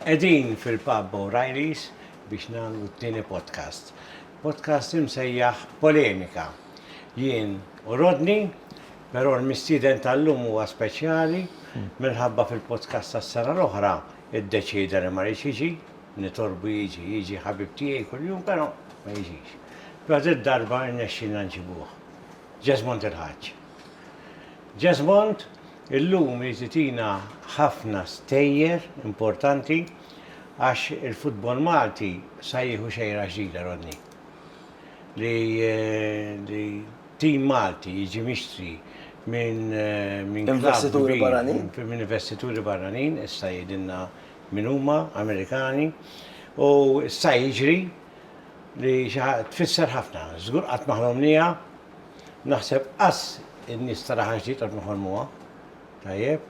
Qegħdin fil-pub O'Reilly's biex nagħmlu t-tieni podcast. Podcast imsejjaħ Polemika. Jien u Rodney, però l-mistieden tal-lum huwa speċjali minħabba fil-podcast tas-sena l-oħra iddeċieda li ma ridx jiġi, nitolbu jiġi, jiġi ħabib tiegħi kuljum però ma jiġix. Però did-darba rnexxielna nġibuh. Ġesmond il-Ħaġġ. Ġesmond Illum jiżitina ħafna stejjer importanti għax il-futbol Malti sa jieħu xejra ġdida Rodney. Li li tim Malti jiġi mixtri minn minn club Investituri kbir, barranin. minn investituri barranin, issa jgħidilna min huma, Amerikani, u sta jiġri li xi ħa tfisser ħafna. Żgur qatt ma ħlomnieha. Naħseb qass in-nies tara ħaġa li jqgħodna nħolmuha. Tajjeb.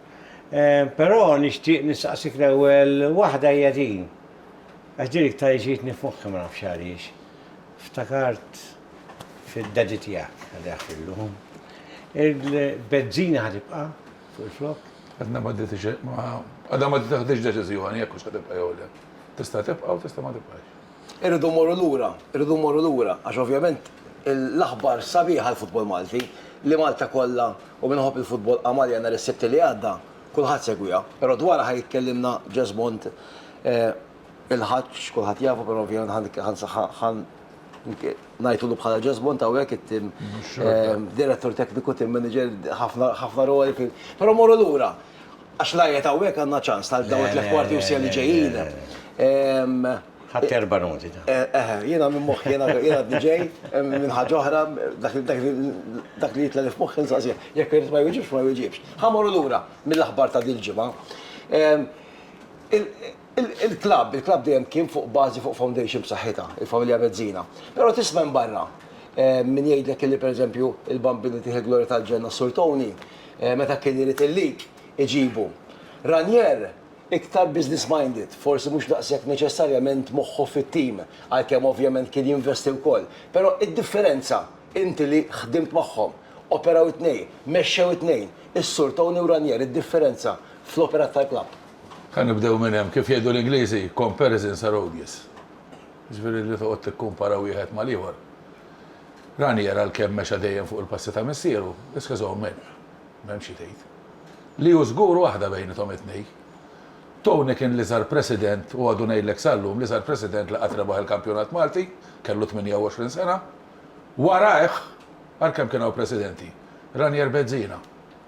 Però nixtieq nistaqsik l-ewwel waħda hija din. Għax din iktar li ġietni f'moħħi ma nafx għaliex. Ftakart fid-daddy tiegħek għaliha fillu. Il-bezzina ħa tibqa' fuq il-flokk? Għadna ma għadha ma tieħdiex deċiżjoni jekk hux ħa tibqa' jew le. Tista' tibqa' u tista' ma tibqax. Irridu mmorru lura, irridu mmorru lura għax ovvjament l-aħbar sabiħa għall-futbol Malti li Malta kollha u min iħobb il-futbol qamarja nhar is-Sibt li għadda, kulħadd segwiha. Però dwarha ħa jitkellimna Jesmond il-Ħaġġ, kulħadd jafu però ovvjament ħa ngħidulu bħala Jesmond hawnhekk it-tim direttur tekniku, tim manager, ħafna roli. Però mmorru lura. Għax la jgħid hawnhekk għandna ċans ta' dawn it-tliet kwarti u siegħa li ġejjin. Ħadt erba' noti ta'. Eħe, jiena minn moħħi, jiena għadni ġej minn ħaġa oħra, dak li jitla' li f'moħħi nsaqsih. Jekk irid ma jwiġibx, ma jwiġibx. Ħa mmorru lura mill-aħbar ta' dil-ġimgħa. Il-klabb, il-klabb dejjem kien fuq bażi, fuq foundation b'saħħitha, il-familja Mezzina. Però tisma' hemm barra min jgħidlek illi pereżempju il-Bambini tih il-glorja tal-ġenna s-Sur Tony Meta kien irid il-lik, iġibu. Ranier, iktar business-minded, forsi mhux daqshekk neċessarjament moħħu fit-tim, għalkemm ovvjament kien jinvesti wkoll, però d-differenza, inti li ħdimt magħhom, operaw it-tnejn, mexxew it-tnejn, is-Sur Tony u Ranier, id-differenza fl-operat tal-klabb. Ħa nibdew minn hemm. Kif jgħidu l-Ingliżi, comparisons are odious. Jiġifieri li toqgħod tikkumpara wieħed mal-ieħor. Ranier għalkemm mexa dejjem fuq il-passi ta' missieru, issa żomm Mep. M'hemm xi tgħid. Li hu żgur waħda bejnithom it-tnej. Tony kien l-iżgħar president u għadu ngħidlek sal-lum l-iżgħar president li qatt rebaħ il-kampjonat Malti, kellu 28 sena. Warajh, għalkemm kien hawn presidenti, Ranier Bezzina.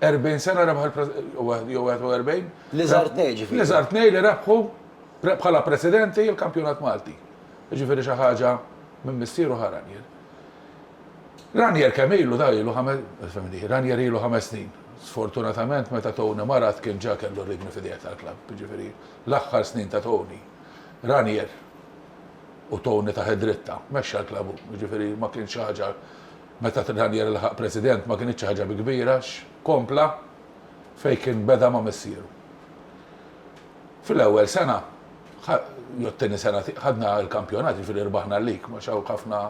40 sena rebaħ il-, jew 41? L-iżgħar tnej ġifieri. L-iżgħar tnej li rebħu bħala presidenti l-kampjonat Malti. Jiġifieri xi ħaġa minn missieru ħa Ranier. Ranier kemm ilu da ilu ħames, fehmni, Ranier ilu ħames snin. Sfortunatament meta Tony marad kien ġa kellu r-ridni f'idejh tal-klabb, jiġifieri l-aħħar snin ta' Tony, Ranier, u Tony tah id-dritta, mexxa l-klabb hu, jiġifieri ma kienx xi ħaġa, meta Ranier laħaq President ma kinitx xi ħaġa bi kbira għax kompla fejn kien beda ma' missieru. Fil-ewwel sena, jew t-tieni sena ħadna l-kampjonat, jiġifieri rbaħna l-lig, ma hawn ħafna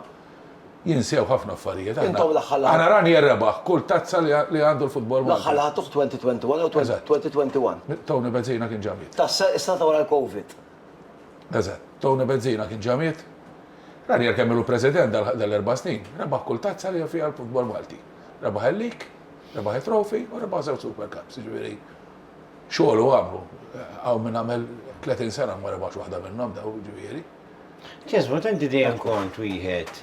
jinsew ħafna affarijiet. Intom l-aħħar lagħbtu. Għana Rani rebaħ kull tazza li għandu l-futbol Malti. L-aħħar lagħbtu f'2021 jew 2021. Tony Bezzina kien ġa miet. Is-sena ta' wara l-Covid. Eżatt. Tony Bezzina kien ġa miet. Ranier kemm ilu president dal-erba' snin, rebaħ kull tazza li hemm fiha l-futbol Malti. Rebaħ il-lig, rebaħ it-trophy u rebaħ żewġ Super Cups, jiġifieri Xogħol u għamlu. Hawn min għamel 30 sena u ma rebaħx waħda minnhom daw, ġifieri. Tisma' tant dejjem kont wieħed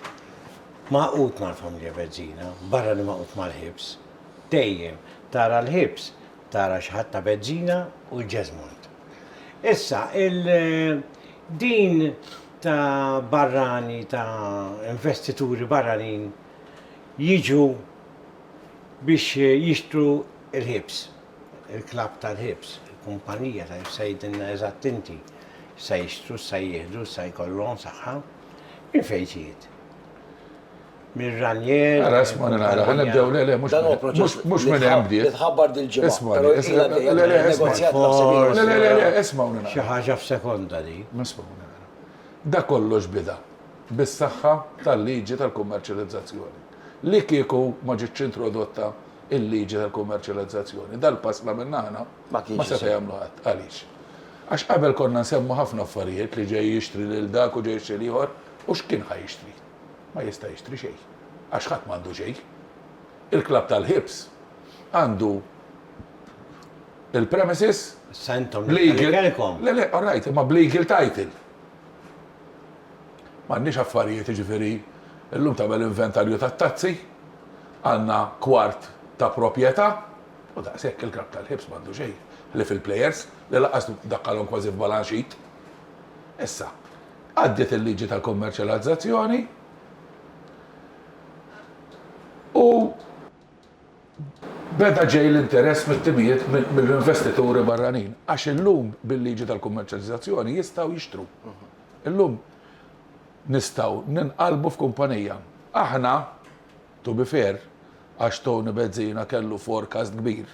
maqut mal-familja Bezzina, barra li maqut mal-ħibs. Dejjem tara l-ħibs, tara xi ħadd ta' Bezzina u l-Ġeżmond. Issa, il-din ta' barrani, ta' investituri barranin jiġu biex jixtru l-ħibs. Il-klabb tal-ħibs, il-kumpanija tal-ħibs se jgħidilna eżatt inti x'se jixtru, x'se jieħdu, x'se jkollhom saħħa. Min fejn trid? Minn Ranier. Ara isma' nara, ħa nibdew le le mhux mhux minn hemm bdiet. Titħabbar dil-ġimgħa. Isma' le le le isma' isma' nara. Xi ħaġa f'sekonda di. Isma' nara. Da kollox bida bis-saħħa tal-liġi tal-kummerċjalizzazzjoni li kieku ma ġietx introdotta il-liġi tal-kummerċjalizzazzjoni. Dal-pass la minn aħna ma seta' jagħmlu ħadd. Għaliex? Għax qabel konna nsemmu ħafna affarijiet li ġej jixtri lil dak u ġej jixtri l-ieħor u x'kien ħa jixtri? Ma jista' jixtri xejn. Għax ħadd m'għandu xejn. Il-klabb tal-ħibs għandu il-premises, legal, le le, all right, imma b'legal title. M'għandniex affarijiet, jiġifieri llum tagħmel inventarju tat-tazzi, għandna kwart ta' proprjetà u daqshekk, il-club tal-ħiebs m'għandu xejn ħlief il-plejers li lanqas dakkalhom kważi f'balance sheet. Issa, għaddiet il-liġi tal-kummerċjalizzazzjoni u, Beda ġej l-interess mit-timijiet mill-investituri barranin għax illum bil-liġi tal-kummerċjalizzazzjoni jistgħu jixtru. Illum nistgħu ninqalbu f'kumpanija. Aħna, to be fair, għax Tony Bezzina kellu forecast kbir,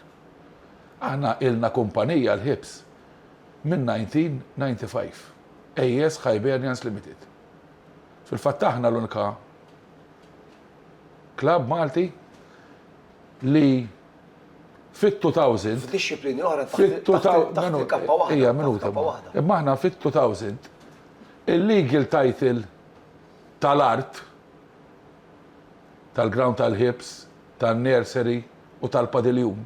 aħna ilna kumpanija l-ħiebs minn 1995, AS Hibernians Limited. Fil-fatt aħna l-unika. Klabb Malti li fit-2000. F'dixxiplini oħra taħt il-kappa waħda. Ejja, minuta. Imma aħna fit-2000 il-legal title tal-art tal-ground tal-ħibs, tan-nursery u tal-padiljun.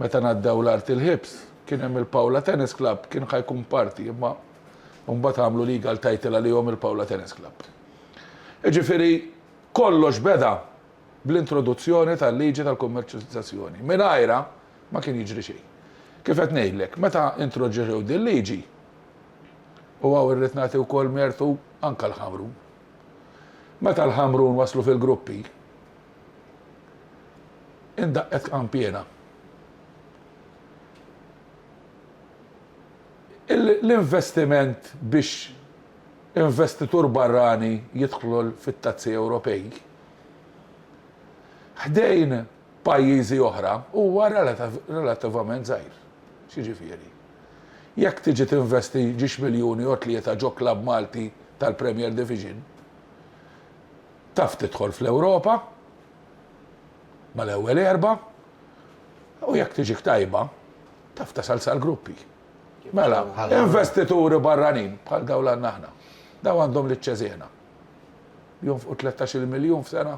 Meta ngħaddew l-Art il-Ħibs, kien hemm il-Pawla Tennis Club, kien ħa jkun parti, imma mbagħad għamlu legal title għalihom il-Pawla Tennis Club. Jiġifieri kollox beda bl-introduzzjoni tal-liġi tal-kummerċjalizzazzjoni. Mingħajrha ma kien jiġri xejn. Kif qed ngħidlek, meta introġġew dil-liġi, u hawn irrid nagħti wkoll mertu anke l-Ħamrun. Meta l-Ħamrun waslu fil-gruppi, indaqqet kampiena. L-investiment biex investitur barrani jidħol fit-Tazzi Ewropej ħdejn pajjiżi oħra huwa relativament żgħir. X'jiġifieri? Jekk tiġi tinvesti ġiex miljun jew tlieta ġo klabb Malti tal-Premier Division, taf tidħol fl-Ewropa mal-ewwel erbgħa u jekk tiġik tajba, taf tasal sal-gruppi. Mela, investituri barranin bħal dawn li għandna aħna, dawn għandhom liċ-Ċeżena. jonfqu 13-il miljun f'sena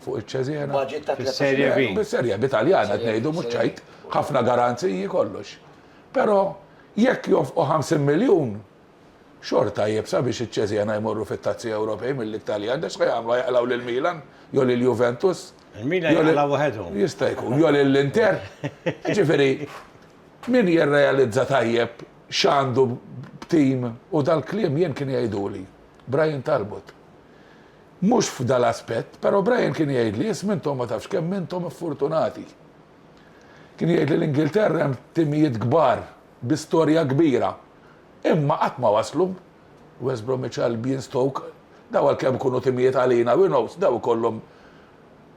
fuq iċ-Ċeżena. Budget ta' 13 Fis-Serje B. miljun. Bis-Serje B Taljan qed ngħidu mhux ċajt, ħafna garanziji kollox. Però jekk jonfqu 50 miljun, xorta iebsa biex iċ-Ċeżena jmorru fit-Tazzi Ewropej milli t-Taljan għax x'ħa jagħmlu, ħa jaqlgħu lil Milan jew lil Juventus? Il-Milan jew lil- jaqlgħu waħedhom. Jista' jkun, jew lil Inter. Jiġifieri, min jirrealizza tajjeb x'għandu b'tim u dal-kliem jien kien jgħiduli. Brian Talbot. Mhux f'dan l-aspett, però Brian kien jgħidli, isma' intom ma tafx kemm intom iffurtunati. Kien jgħidli l-Ingilterra hemm timijiet kbar bi storja kbira, imma qatt ma waslu. West Bromwich Albion, Stoke, dawn għalkemm ikunu timijiet għalina we knows, dawn ikollhom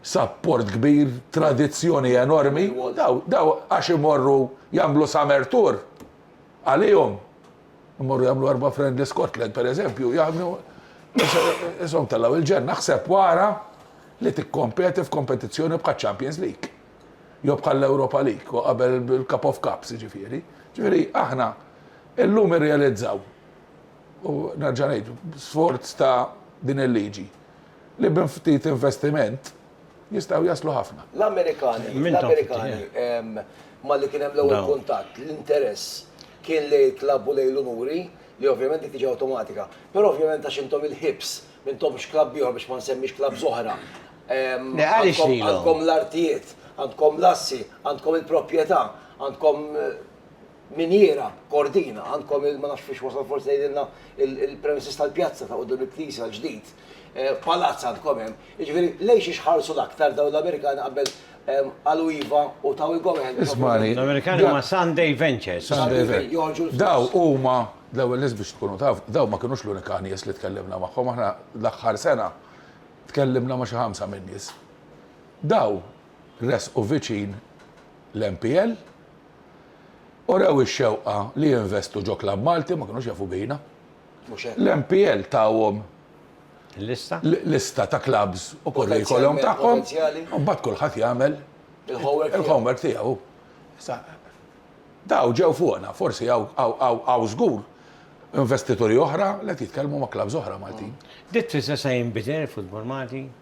sapport kbir, tradizzjoni enormi u dawn għax imorru jagħmlu summer tour għalihom. Imorru jagħmlu erba' friend li Scotland pereżempju jagħmlu isom tellgħu il-ġenna ħseb wara li tikkompeti f'kompetizzjoni bħal Champions League. Jew bħal Europa League u qabel il-Cup of Cups jiġifieri. Ġifieri aħna illum irrealizzaw u nerġa' ngħid sforz ta' din il-liġi li bin ftit investiment Jistgħu jaslu ħafna. L-Amerikani, l-Amerikani, malli kien hemm l-ewwel kuntatt, l-interess kien li klabu lejn l-unuri, li ovvjament dik tiġi awtomatika. Però ovvjament għax intom il-ħibs, m'intomx klabb ieħor biex ma nsemmix klabb żoħra. Għandkom l-artijiet, għandkom l-assi, għandkom il-proprjetà, għandkom. Miniera, Kordina, għandkom il ma nafx fiex wasal forsi jgħidilna il-premises tal-pjazza ta' quddiem il-knisja l-ġdid. Palazz għandkom hemm. Jiġifieri lejn xiex ħarsu l-aktar dawn l-Amerikani qabel qalu iva u taw il-go-ahead. Ismagħni. L-Amerikani huma Sunday Ventures. Sunday Ventures. Daw huma l-ewwel nies biex tkunu taf, daw ma kinux l-unika nies li tkellimna magħhom, aħna l-aħħar sena tkellimna ma' xi ħamsa min-nies. Daw resqu viċin l-MPL, Urew ix-xewqa li jinvestu ġo klabb Malti u ma kinux jafu bina. Mhux hekk. L-MPL tawhom Il-lista? lista ta' klabbs u kurrikulum tagħhom u mbagħad kulħadd jagħmel Il-homework tiegħu. il-homework tiegħu. Issa, dawn ġew fuqna, forsi hawn hawn żgur investituri oħra li qed jitkellmu ma' klabbs oħra Maltin. Ditt tfisser se jinbidel il-futbol Malti?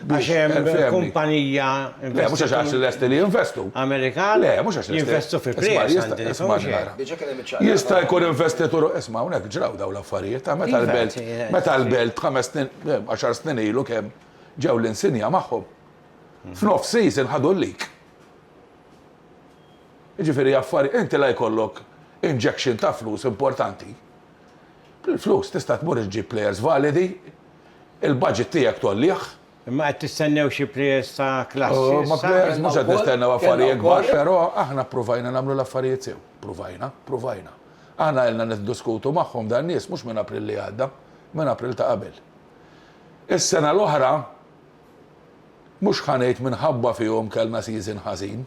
Għax hemm kumpanija Le, mhux għax għax lesti li jinvestu. Amerikan? Le, mhux għax jinvestu fi prijs. Jista' jkun investitur, isma' hawnhekk ġraw dawn l-affarijiet, ta' meta l-belt, meta l-belt ħames snin, għaxar snin ilu kemm ġew l-insinja magħhom. F'nof season ħadu l-lik. Ġifieri affari, inti la jkollok injection ta' flus importanti. Bil-flus tista' tmur iġġib players validi, Il-budget tiegħek tgħollih. Imma qed tistennew xi players ta' klassi issa? Ma players mhux qed nistennew affarijiet kbar, però aħna ppruvajna nagħmlu l-affarijiet sew. Ppruvajna, ppruvajna. Aħna ilna niddiskutu magħhom dan nies mhux minn April li għadda, minn April ta' qabel. Is-sena l-oħra mhux ħa ngħid minħabba fihom kellna season ħażin,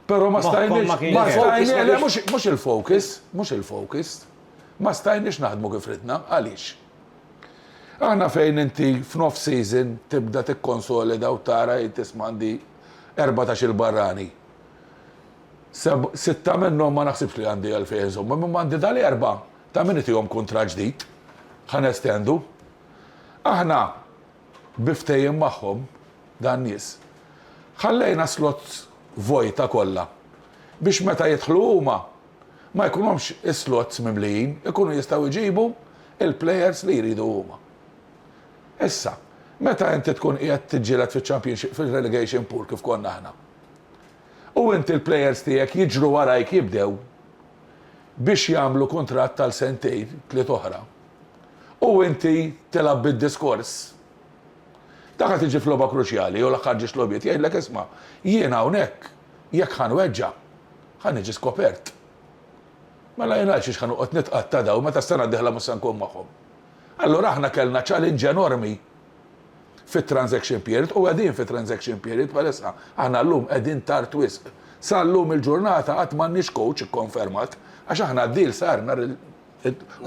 però ma stajniex, ma stajniex, le mhux il-focus, mhux il-focus, ma stajniex naħdmu kif ridna. Għaliex? Aħna fejn inti f'nofs season tibda tikkonsolida u tara jgħid isma' għandi erbatax-il barrani. Seb', sitta minnhom ma naħsibx li għandi għalfejn inżommhom imma għandi dal-erbgħa ta' min itihom kuntratt ġdid. Ħa nestendu. Aħna bi ftehim magħhom, dan-nies, ħallejna slots vojta kollha biex meta jidħlu huma, ma jkunhomx is-slots mimlijin, ikunu jistgħu jġibu l-plejers li jridu huma. Issa, meta inti tkun qiegħed tiġġieled fiċ-Championship fir-relegation pool kif konna aħna, u inti l-plejers tiegħek jiġru warajk jibdew biex jagħmlu kuntratt għal sentejn, tliet oħra, u inti tilgħab bid-diskors, dak qed iġi f'logħba kruċjali jew l-aħħar ġiex logħbiet jgħidlek isma' jien hawnhekk Jekk ħa nweġġa', ħa niġi skopert. Mela jien għalxiex ħa noqgħod nitqatta' dawn meta s-sena d-dieħla mhux se nkun magħhom? Allura aħna kellna challenge enormi fit-transaction period u qegħdin fi transaction period bħalissa. Aħna llum qegħdin tard wisq. Sa llum il-ġurnata għad m'għandniex coach ikkonfermat għax aħna d-deal sar nhar il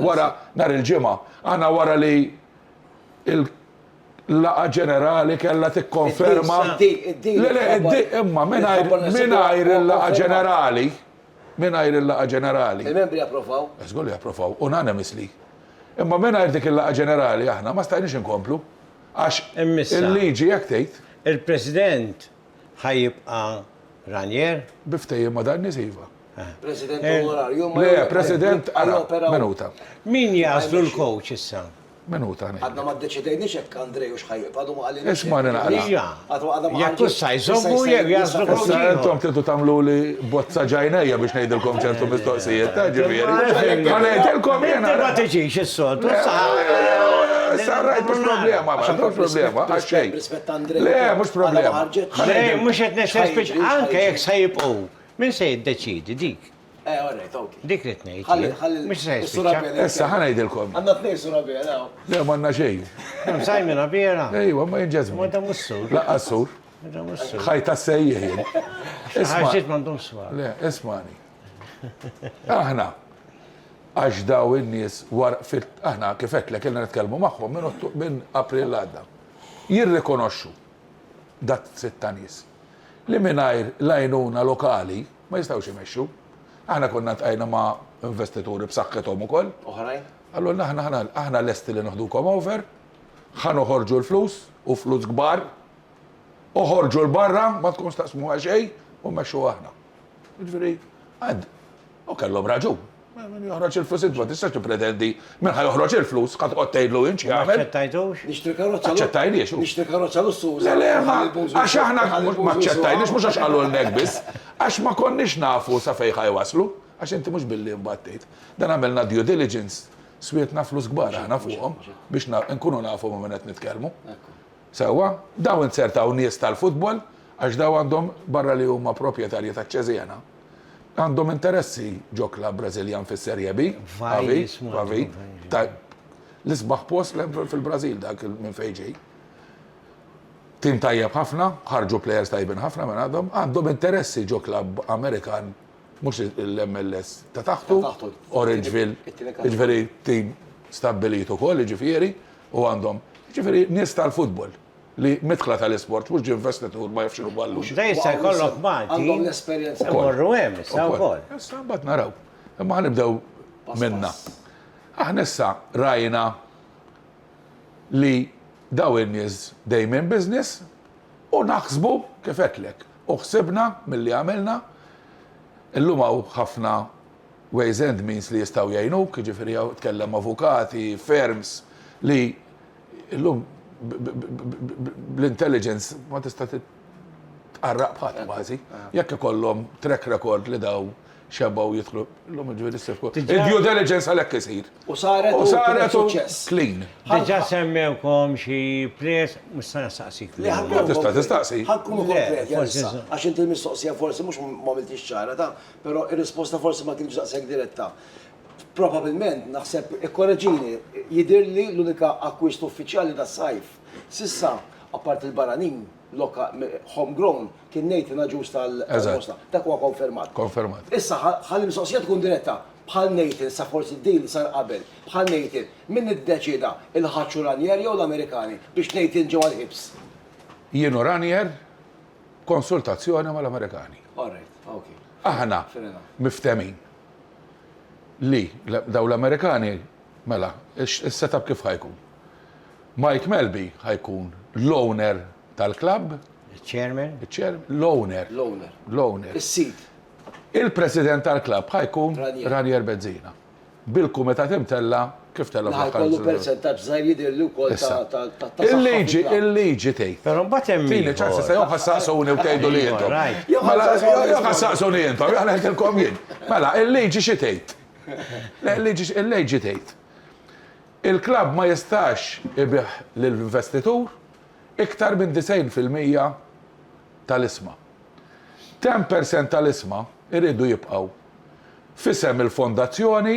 wara nhar il-Ġimgħa. Aħna wara li l Laqgħa ġenerali kellha tikkonferma. Le le, imma mingħajr mingħajr il-laqgħa ġenerali, mingħajr il-laqgħa ġenerali. Il-membri approvaw. Żgur li approvaw, unanimously. Imma mingħajr dik il-laqgħa ġenerali aħna ma stajniex inkomplu għax il-liġi hekk tgħid. Il-President ħa jibqa' Ranier? Bi ftehim ma' dan-nies iva. President onorarju, ma Le, President, ara, minuta. Min jaslu l-coach issa? Minuta. Għadna ma d-deċidejni xek Andrej u xħajib, għadu ma għalli. Isma nina għalli. Jek kussa jżommu jek jaslu l-coach. Issa jentom titu tamlu li bozza ġajnija biex nejdilkom ċertu mistoqsijiet, ta' ġivjeri. Ma nejdilkom jena. Ma tiġiġ il-sot, Sarrajt mux problema, ma mux problema, għaxxej. Le, mux problema. Le, mux etnex, anke jek sajib u. Min se jiddeċiedi dik? Eh, all right, ok. Dik rid ngħid. Ħalli, ħalli. Mhux se jispiċċa. Issa ħa ngħidilkom. Għandna tnejn sura biela hawn. Le m'għandna xejn. Hemm sajmina biela. Ejwa, ma jinġażmu. Ma dam is-sur. Laqqa s-sur. Ħajta sejjih jien. Ħarġiet m'għandhom swar. Le, ismani. Aħna għax daw in-nies war fit aħna kif qed lek ilna nitkellmu magħhom minn April għadda. Jirrikonoxxu dat sitta nies. li mingħajr l-għajnuna lokali ma jistgħux imexxu. Aħna konna ltqajna ma' investituri b'saħħithom ukoll. Oħrajn? Qalulna aħna aħna aħna lesti li neħdukom over, ħa noħorġu l-flus u flus kbar, oħorġu 'l barra ma tkunx taqsmuha xejn u mmexxuha aħna. Jiġifieri, U kellhom raġun. Min joħroġ il-flus int ma tistax tippretendi min ħa joħroġ il-flus, ħa toqgħod tgħidlu int xi jagħmel. Aċċettajtux? Nixtri karozza. Aċċettajniex. Nixtri karozza lussuża. Le le, ma għax aħna ma aċċettajniex mhux għax qalulna hekk biss, għax ma konniex nafu sa fejn ħa jwasslu, għax inti mhux billi imbagħad tgħid. Dan għamilna due diligence, swietna flus kbar aħna fuqhom biex nkunu nafu ma' min qed nitkellmu. Sewwa, dawn inzertaw nies tal-futbol għax dawn għandhom barra li huma proprjetarji taċ-Cesena, Għandhom interessi ġo klabb Brażiljan fis-Serie B. Vajj jismu. Vajj. Tajb. L-isbaħ post fil-Brażil dak minn fejn ġej. Tim tajjeb ħafna, ħarġu plejers tajbin ħafna minn għadhom, għandhom interessi ġo klabb Amerikan mhux l-MLS ta' taħtu, Orangeville, jiġifieri tim stabbilit ukoll, jiġifieri, u għandhom, jiġifieri nies tal-futbol. li midħla tal-isport mhux ġinvestitur ma jafx inhu għallu. Da jista' jkollok Malti. Għandhom l-esperjenza. Morru hemm issa wkoll. Issa mbagħad naraw. Imma ħanibdew minna. Aħna issa rajna li daw in-nies dejjem business u naħsbu kif għedtlek. U ħsibna milli għamilna illum hawn ħafna ways and means li jistgħu jgħinuk, jiġifieri hawn tkellem avukati, firms li Illum bl-intelligence ma tista' tqarraq bħadd kważi. Jekk ikollhom track record li daw xebgħu jidħlu illum ġifieri ssir fuq. Il-due diligence għalhekk isir. U saret u saret u clean. Diġà semmewkom xi players mhux se nistaqsik fuqhom. Ma tista' tistaqsi. Ħa nkunu konkreti għalissa. Għax inti l-mistoqsija forsi mhux m'għamiltiex ċara ta', però r-risposta forsi ma kinitx daqshekk diretta. Probabilment, naħseb, ikkoreġini, jidhirli l-unika akkwist uffiċjali tas-sajf s'issa, apparti l-barranin, home grown, kien ngħid inaġuż tal-Mosta. Dak huwa konfermat. Konfermat. Issa, ħalli l-mistoqsija tkun diretta, bħal Nathan, sa forsi d-deal sar qabel, bħal Nathan, min iddeċieda, il-Ħaġ u Ranier jew l-Amerikani, biex Nathan ġie mal-ħibs? Jien u Ranier, b'konsultazzjoni mal-Amerikani. All right, ok. Aħna miftehmin. Li, dawn l-Amerikani, mela, is-setup kif ħa jkun? Mike Melby ħa jkun l-owner tal-klabb. Iċ-chairman. Iċ-chairman, l-owner. L-owner. L-owner. Is-sid. Il-president tal-klabb ħa jkun Ranier Bezzina. Bil-kumitat imtella' Kif telgħob l-akkanzunata? Naħa jkollu persentaġġ żgħir jidhirli wkoll ta' ta' ta' ta' Il-liġi, il-liġi tgħid. Però mbagħad hemm Tini ieħor. ċans issa jew ħa ssaqsuni u tgħidu li intom. Ieħor, right. Jew ħa ssaqsuni. Jew ħa ssaqsuni intom, jew ħa ngħidilkom jien. Mela, il-liġi xi tgħid? Le, il-liġi, il-liġi tgħid. Il-klabb ma jistax ibigħ lil investitur iktar minn 90 fil-mija tal-isma. 10 percent tal-isma jridu jibqgħu f'isem il-fondazzjoni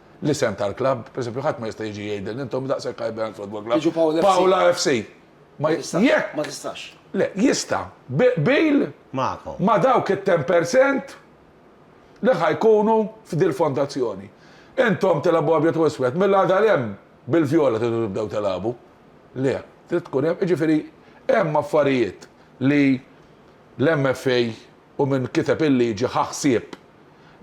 l-isem tal-klabb, pereżempju ħadd ma jista' jiġi jgħidilni intom daqshekk Highland Football Club. Jiġu Pawl FC. Pawla FC. Ma jistax. Jekk. Ma tistax. Le, jista'. Bil. Magħkom. Ma' dawk it-ten per cent li ħa jkunu f'dil-fondazzjoni. Intom tilgħabu abjad u iswed, mill-għada 'l hemm bil-vjola tridu tibdew tilgħabu? Le, trid tkun hemm, jiġifieri hemm affarijiet li l-MFA u min kiteb il-liġi ħa ħsieb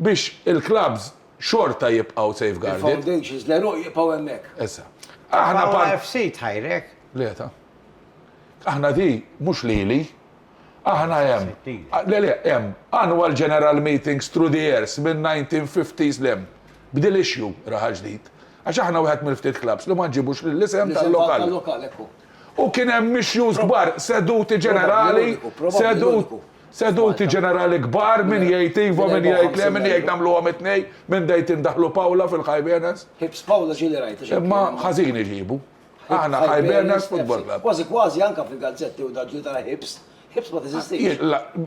biex il-klabbs, xorta jibqgħu safeguarded. Il-foundations l-għeruq jibqgħu hemmhekk. Issa. Aħna part. Paola FC tħajrek? Le ta. Aħna di mhux lili. Aħna hemm. Le le hemm annual general meetings through the years minn 1950s l hemm. B'dil issue raha ġdid. Għax aħna wieħed mill-ftit clubs li ma nġibux lill-isem tal-lokal. L-isem tal-lokal hekk hu. U kien hemm issues kbar, seduti ġenerali, seduti ġenerali kbar, min jgħid iva, min jgħid le, min jgħid nagħmluhom it-tnejn, min dejt indaħħlu Paula fil-Hibernians. Imma ħażin iġibu. Aħna Hibernians Football Club. Kważi kważi anke fil-gazzetti u dak ġiet tara Hibs, Hibs ma teżistix.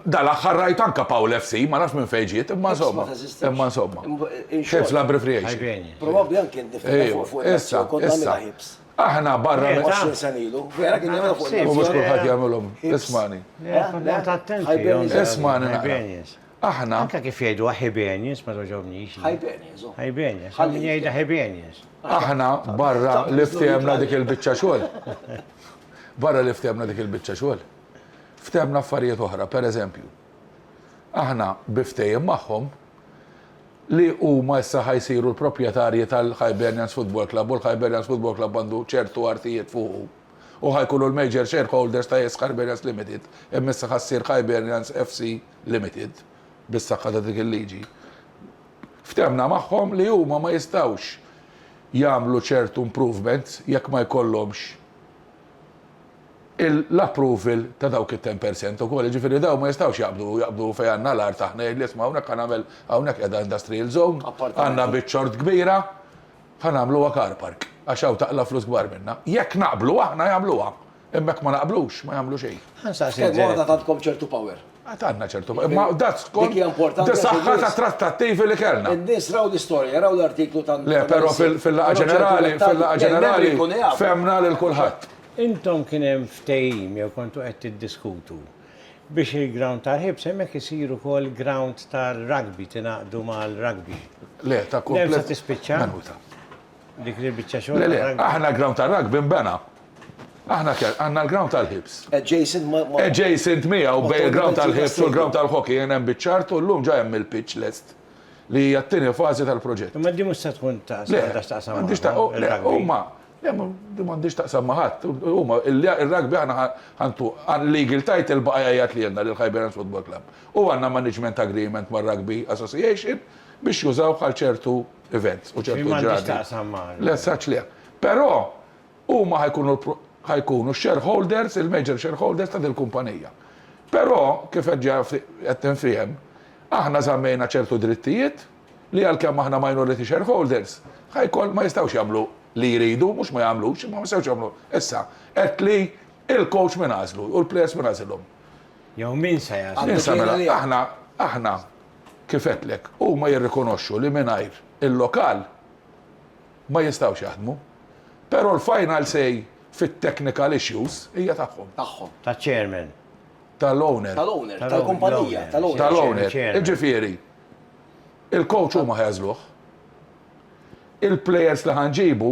Dal-aħħar rajt anke Paul FC, ma nafx minn fejn ġiet, imma insomma. Imma insomma. Hibs l-abbreviation. Probabbli anke ndiftakar fuq fuq. Issa, issa. Aħna barra minn. 20 sena ilu. Vera kien jagħmilha fuq il-Mhux kulħadd jagħmilhom. Ismagħni. Ismagħni naqra. Aħna. Anke kif jgħiduha Hibernians ma togħġobnix. Hibernians. Hibernians. Hawn min jgħidha Hibernians. Aħna barra li ftehemna dik il-biċċa xogħol. Barra li ftehemna dik il-biċċa xogħol. Ftehemna affarijiet oħra, pereżempju. Aħna, bi ftehim magħhom, li huma issa ħa jsiru l-proprjetarji tal-Hibernians Football Club u l-Hibernians Football Club għandu ċertu artijiet fuqu u ħa jkunu l-major shareholders ta' Esk Hibernians Limited, imma issa ħa ssir Hibernians FC Limited, bis-saħħa ta' dik il-liġi. Ftehmna magħhom li huma ma jistgħux jagħmlu ċertu improvements jekk ma jkollhomx. l-approval ta' dawk it-ten per cent ukoll, jiġifieri dawn ma jistgħux jaqbdu, jaqbdu fejn għandna l-art aħna, jgħidli isma' hawnhekk ħa nagħmel, hawnhekk qiegħda industrial zone, għandna biċċa art kbira, ħa nagħmluha car park, għax hawn taqla' flus kbar minnha. Jekk naqblu aħna jagħmluha, imma jekk ma naqblux ma jagħmlu xejn. Ħa nsaqsi lil. Kemm aħna għandkom ċertu power. Għad għandna ċertu power, imma dak skont is-saħħa tat-trattattivi li kellna. In-nies raw l-istorja, jaraw l-artiklu ta' Le, però fil-laqgħa ġenerali, fil-laqgħa ġenerali fehmna lil kulħadd. Intom kien hemm ftehim jew kontu qed tiddiskutu biex il-ground tal-ħibs hemmhekk isir ukoll ground tar-rugby, tingħaqdu mal-rugby? Le, ta' kull. Hemm sa tispiċċa? Minuta. Dik hi l-biċċa xogħol tar-rugby? Le, le, aħna l-ground tar-rugby nbena. Aħna kellna, għandna l-ground tal-ħibs. Adjacent ma'. Adjacent miegħu bejn il-ground tal-ħibs u l-ground tal-hockey hemm biċ-ċart u llum ġa hemm il-pitch lest li hija t-tieni fażi tal-proġett. Imma din mhux se tkun ta' għandha x'taqsam ma'. Le, m'għandhiex ta' u le, huma Le, din m'għandhiex x'taqsam ma' ħadd. Huma, ir-rugby aħna ħantu legal title baqa' jgħajjat lilna, lil Hibernians Football Club. U għandna management agreement mar-Rugby Association biex jużawh għal ċertu events u ċertu ġrati. Din m'għandhiex x'taqsam ma'. Le, saċ le. Però, huma ħa jkunu ħa jkunu x-shareholders, il-major shareholders ta' dil-kumpanija. Però, kif qed ġa qed tinfiehem, aħna żammejna ċertu drittijiet li għalkemm aħna minority shareholders, Hicon ma jistgħux jagħmlu li jridu, mhux ma jagħmlux, imma ma jistgħux jagħmlu. Issa, għedt li l-coach min għażlu u l-players min għażilhom? Jew min se jagħżlu? Min se mela? Aħna, aħna, kif għedtlek, huma jirrikonoxxu li mingħajr il-lokal ma jistgħux jaħdmu, però l-final say fit-technical issues hija tagħhom. Tagħhom. Taċ-chairman. Tal-owner. Tal-owner, tal-kumpanija, tal-owner. Tal-owner, jiġifieri. Il-coach huma ħajgħażluh. Il-players li ħanġibu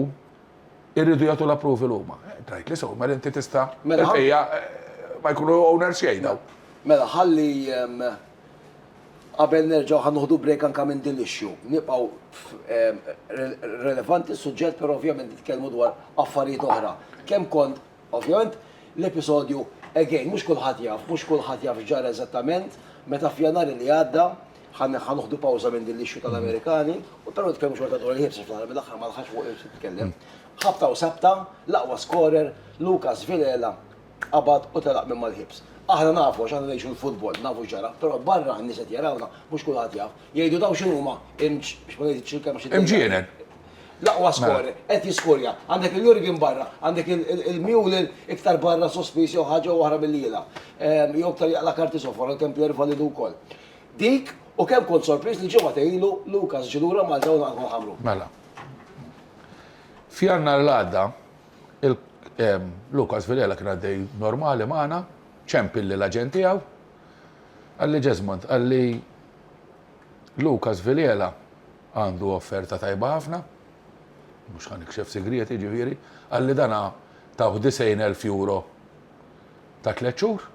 irridu jagħtu l-approval huma. Tgħidli sew, mela inti tista' Mela ħa- il-bqija eh, ma jkunu owners xejn daw. Mela, ħalli ehm, qabel nerġgħu ħa noħdu break anka minn din l-issue. Nibqgħu f- ehm, re- relevanti s-suġġett, però ovvjament nitkellmu dwar affarijiet oħra. Kemm kont Ovvjament, l-episodju, again, mhux kulħadd jaf, mhux kulħadd jaf x'ġara eżattament, meta f'Jannar li għadda, ħa noħdu pawża minn din l-issue tal-Amerikani, u però nitkellmu xorta dwar il-Hibs għax fl-aħħar mill-aħħar ma l-ħaqx fuq Hibs nitkellem. Ħabta u sabta, l-aqwa skorer, Lucas Villela, qabad u telaq minn mal-Hibs. Aħna nafu għax aħna ngħixu l-futbol, nafu x'ġara, però barra n-nies qed jarawna, mhux kulħadd jaf. Jgħidu dawn x'inhuma, imġ, biex ma ngħidx il-kelma xi. Imġienen. L-aqwa skorer, qed jiskorja. Għandek il-Jurgen barra, għandek il-Mewlen iktar barra sospiż jew ħaġa jew oħra milli jilgħab. Ehm, jew iktar jaqla' karti sofra, kemm Pierre Validu wkoll. Dik u kemm kont sorpriż li ġimgħa ilu Lukas ġilura Malta u naqgħu ħamru. Mela. Fjanna l-għada, ehm, Lukas Vilela kien għaddej normali magħna, ċempilli l-aġent tiegħu. Għalli Ġezmond, għalli Lukas Vilela għandu offerta tajba ħafna, mhux ħa nikxef sigriet jiġifieri, qal li dan tawh 90,000 euro ta' tliet xhur,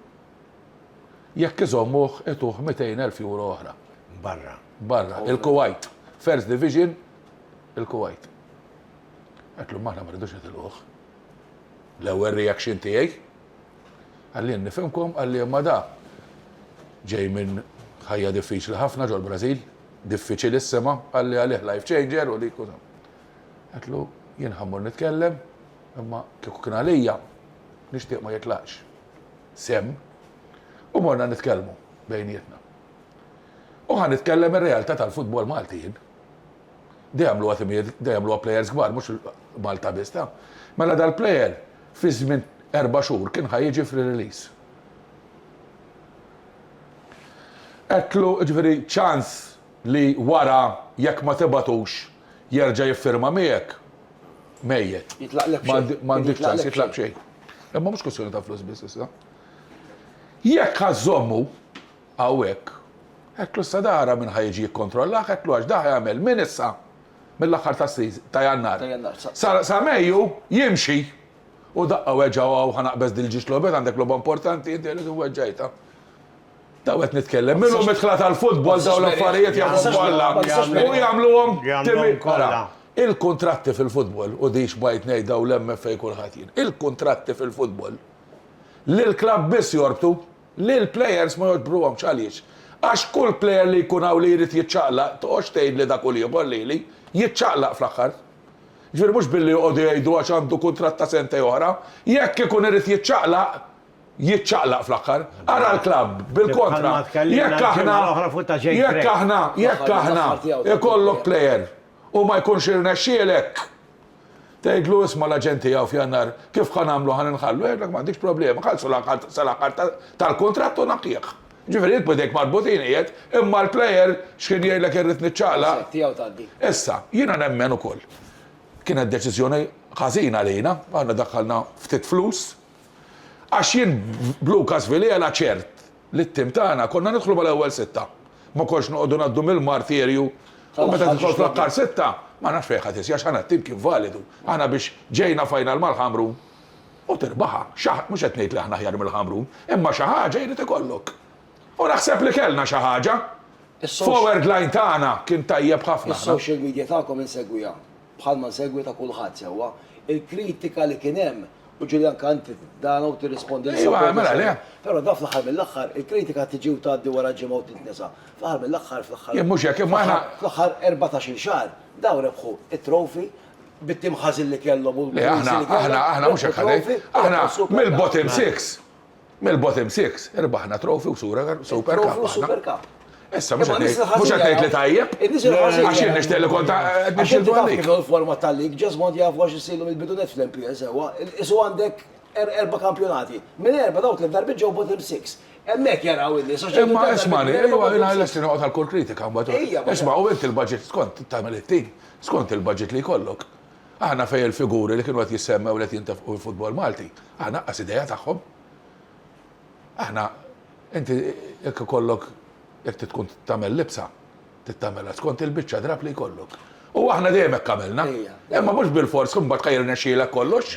jekk iżommuh ituh 200,000 euro oħra. Barra. Barra, il-Kuwajt. First Division, il-Kuwajt. Għedtlhom aħna ma rridux nitilquh. L-ewwel reaction tiegħi. Għalli nifhimkom għalli imma da ġej minn ħajja diffiċli ħafna ġol-Brażil. Diffiċilissima, qalli għalih life changer u dik u dan. Għedtlu, jien ħa mmur nitkellem, imma kieku kien għalija, nixtieq ma jitlaqx sehem. U morna nitkellmu bejnietna. U ħa nitkellem ir-realtà tal-futbol Malti jien. Da jagħmluha timijiet, da jagħmluha plejers kbar, mhux Malta biss ta. Mela dal-plejer fi żmien erba' xhur kien ħa jiġi free release. Għedtlu, jiġifieri, ċans li wara jekk ma tibgħatux jerġa' jiffirma miegħek? Mejjet. Jitlaqlek b'xejn. M'għandek ċans, jitlaq b'xejn. Imma mhux kwistjoni ta' flus biss issa. Jekk ħa żżommu hawnhekk, għedtlu issa da ara min ħa jiġi jikkontrollak, għedtlu għax da ħa jagħmel minn issa, mill-aħħar ta' Jannar, sa Mejju jimxi. U daqqa weġgħu hawn ħa naqbeż dil-ġiex logħbiet għandek logħba importanti inti għaliex weġġajtha. Daw qed nitkellem minnhom midħla tal-futbol daw l-affarijiet jagħmlu kollha u jagħmluhom timi kollha. Il-kuntratti fil-futbol u dix bajt ngħid daw l-MFA kulħadd jien. Il-kuntratti fil-futbol lill-klabb biss jorbtu lill-plejers ma joġbruhomx għaliex? Għax kull plejer li jkun hawn li jrid jiċċaqlaq toqgħodx tgħidli dak u l-ieħor lili jiċċaqlaq fl-aħħar. Jiġifieri mhux billi joqogħdu jgħidu għax għandu kuntratt ta' sentej oħra. Jekk ikun irid jiċċaqlaq, jiċċaqlaq fl-aħħar. Ara l-klabb, bil-kontra. Jekk aħna, jekk aħna, jekk aħna ikollok plejer u ma jkunx irnexxielek, tgħidlu isma' l-aġent tiegħu f'Jannar kif ħa nagħmlu ħa ninħallu, jgħidlek m'għandix problema, ħallsu sal-aħħar tal-kuntratt u naqqih. Jiġifieri int b'idejk marbutin qiegħed, imma l-player x'kien jgħidlek irrid niċċaqlaq. Is-set tiegħu tgħaddi. Issa, jiena nemmen ukoll, kienet deċiżjoni ħażina għalina, aħna daħħalna ftit flus, għax jien b'Lukas Villela ċert li t-tim tagħna konna nidħlu mal-ewwel sitta. Ma konx noqogħdu ngħaddu mill-martirju u meta tidħol fl-aħħar sitta, ma nafx fejn ħa tisgħi għax aħna t-tim kien validu. Aħna biex ġejna final mal-Ħamrun, U tirbaħha. Xi ħaġa, mhux qed ngħid li aħna aħjar mill-Ħamrun, imma xi ħaġa jrid ikollok. U naħseb li kellna xi ħaġa. Forward line tagħna kien tajjeb ħafna aħna. Is-social media tagħkom insegwiha, bħalma nsegwi ta' kulħadd sewwa. Il-kritika li kien hemm, u ġieli anke inti tdana u tirrispondi lil supporters. Ejwa, mela le. Però dan fl-aħħar mill-aħħar, il-kritika tiġi u tgħaddi wara ġimgħa u tintnesa. Fl-aħħar mill-aħħar, fl-aħħar. Jien mhux hekk, imma aħna. Fl-aħħar erbatax-il xahar, dawn rebħu t-trophy, bit-tim ħażin li kellhom u l-Aħna, aħna, aħna mhux hekk ħadej. Aħna mill-bottom 6. Mill-bottom 6 irbaħna trofi u sura super cup. Super cup. Issa mhux qed mhux qed ngħid li tajjeb. Għax jien nixtieq li kont biex il għalik. Kif forma tal-lig, ġas mod jaf għax isilu mill-bidunet fl-MPL sewwa, isu għandek er-, erba' kampjonati. Minn erba' dawk li darbi ġew bottom 6. Emmek jaraw illi soċjetà. Imma isma' li, ejwa, jien għal-estin għal-kol kritika, mbagħad. Isma' u inti l-budget skont tagħmel it-tim. Skont il-budget li jkollok. Aħna fejn il-figuri li kienu qed jissemmew li qed jintefqu fil-futbol Malti, aħna aqqas idea tagħhom. Aħna, inti jekk ikollok, jekk trid tkun tagħmel libsa, trid tagħmilha skont il-biċċa drapp li jkollok. U aħna dejjem hekk għamilna. Imma mhux bilfors imbagħad ħa jirnexxielek kollox.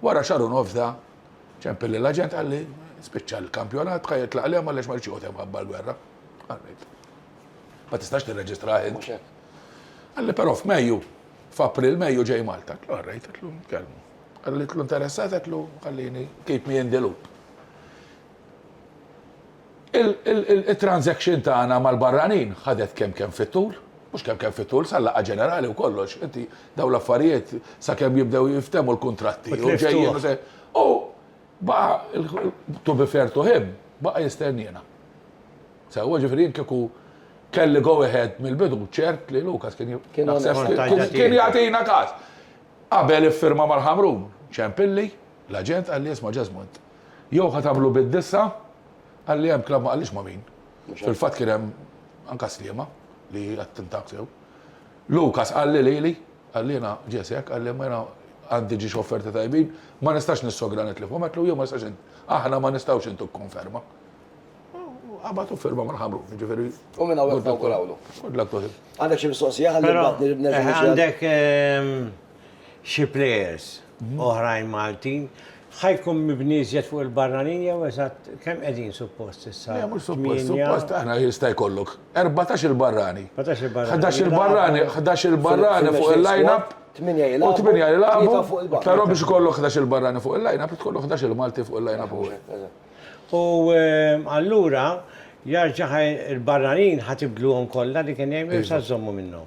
Wara xahar u nofs da, ċempel lill-aġent qalli, spiċċa l-kampjonat, bqa' jitlaq għalihom għaliex ma ridx joqgħod hemm mħabba l-gwerra. Qallilt, ma tistax tirreġistrah int. Qalli, però f'Mejju, f'April, Mejju ġej Malta. Għatlu, all right, għatlu, nkellmu. Għalitlu interessat, għatlu, ħallini, keep me in the loop. Il-transaction tagħna mal-barranin ħadet kemm kemm fit-tul, mhux kemm kemm fit-tul, sal-laqgħa ġenerali u kollox, inti dawn l-affarijiet sakemm jibdew jinftehmu l-kuntratti u ġejjin u se. U baqa' to be fair to him, baqa' jistenniena. Sewwa, ġifieri jien kieku kelli go ahead mill-bidu ċert li Lukas kien kien jagħtina każ. Qabel iffirma mal-Ħamrun, Ciampilli, l-aġent qalli isma' Ġesmond, Jew ħa tagħmlu bid-disgħa? Qal li hemm klabb ma qalix ma' min. Fil-fatt kien hemm anke Sliema li attentak sew. Lukas qalli lili, qal jiena Jesse hekk, qal imma jiena għandi ġiex offerti tajbin, ma nistax nissogra nitlifhom, għedtlu jien ma nistax aħna ma nistgħux intuk konferma. U qabad u firma mal-ħamrun, jiġifieri. U minn hawn nawgurawlu. Good luck to him. Għandek xi mistoqsija ħalli nibgħat nerġa'. Għandek xi players oħrajn Maltin, ħa jkun mibni iżjed fuq il-barranin jew eżatt kemm qegħdin suppost issa? Le mhux suppost, suppost aħna jista' jkollok 14-il barrani. 14-il barrani. 11-il barrani, 11-il barrani fuq il-line-up. U 8 jilagħbu, però biex ikollok 11-il barrani fuq il-line-up, trid tkollok 11-il Malti fuq il-line-up ukoll. U allura jarġa' il-barranin ħa tibdluhom kollha li kien hemm jew se żżommu minnhom?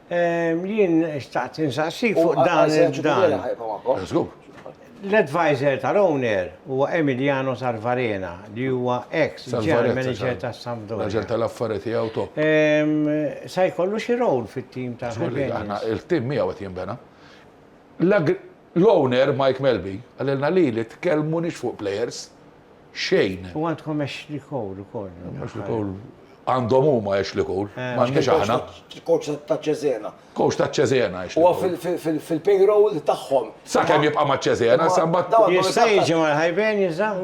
Jien xtaqt insaqsik fuq dan il-dan. L-advisor tal-owner huwa Emiliano Sarvarena li huwa ex General Manager tas-Sampdoria. Raġel tal-affari tiegħu top. Se jkollu xi role fit-tim tal-Hibernians? Żgur li aħna, il-tim miegħu qed jinbena. L-owner Mike Melby qalilna li li tkellmunix fuq plejers xejn. U għandkom Ashley Cole ukoll. Ashley Cole għandhom huma Ashley Cole, m'għandniex aħna. Coach ta' Cesena. Coach ta' Cesena Ashley Cole. Huwa fil-payroll tagħhom. Sakemm jibqa' ma' Cesena, sa mbagħad. Jista' jiġi mal-Hibernians dan?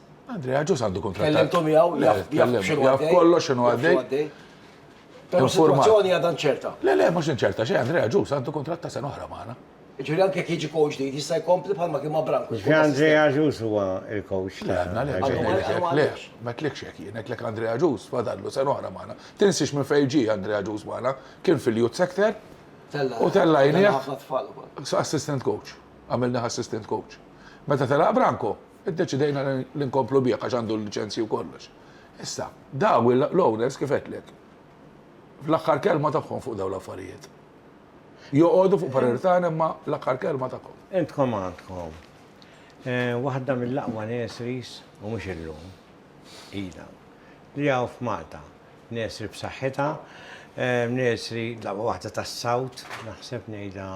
Andrea ġus għandu kuntratt. Kellimtu miegħu jaf kollox x'inhu għaddej. Però informazzjoni għadha ċerta. Le le mhux inċerta xejn Andrea ġus għandu kuntratt ta' sena oħra magħna. Ġifieri anke jiġi coach ġdid jista' jkompli bħalma kien ma' Branko. Ġifieri Andrea ġus huwa il-coach. Le għadna le. Le, ma tlikx hekk jien għedlek Andrea ġus fadallu sena oħra magħna. Tinsiex minn fejn ġie Andrea ġus magħna, kien fil-youth sector u tella' jnieh assistant coach. Għamilnieh assistant coach. Meta telaq Branko, Iddeċidejna li nkomplu bih għax għandu l-liċenzji u kollox. Issa, dawn l-owners kif għedtlek, fl-aħħar kelma tagħhom fuq dawn l-affarijiet. Joqogħdu fuq parir tagħna imma l-aħħar kelma tagħhom. Intkom għandkom waħda mill-aqwa nurseries, u mhux illum, ilha, li hawn f'Malta. Nursery b'saħħitha, nursery dawwa waħda tas-South, naħseb ngħidha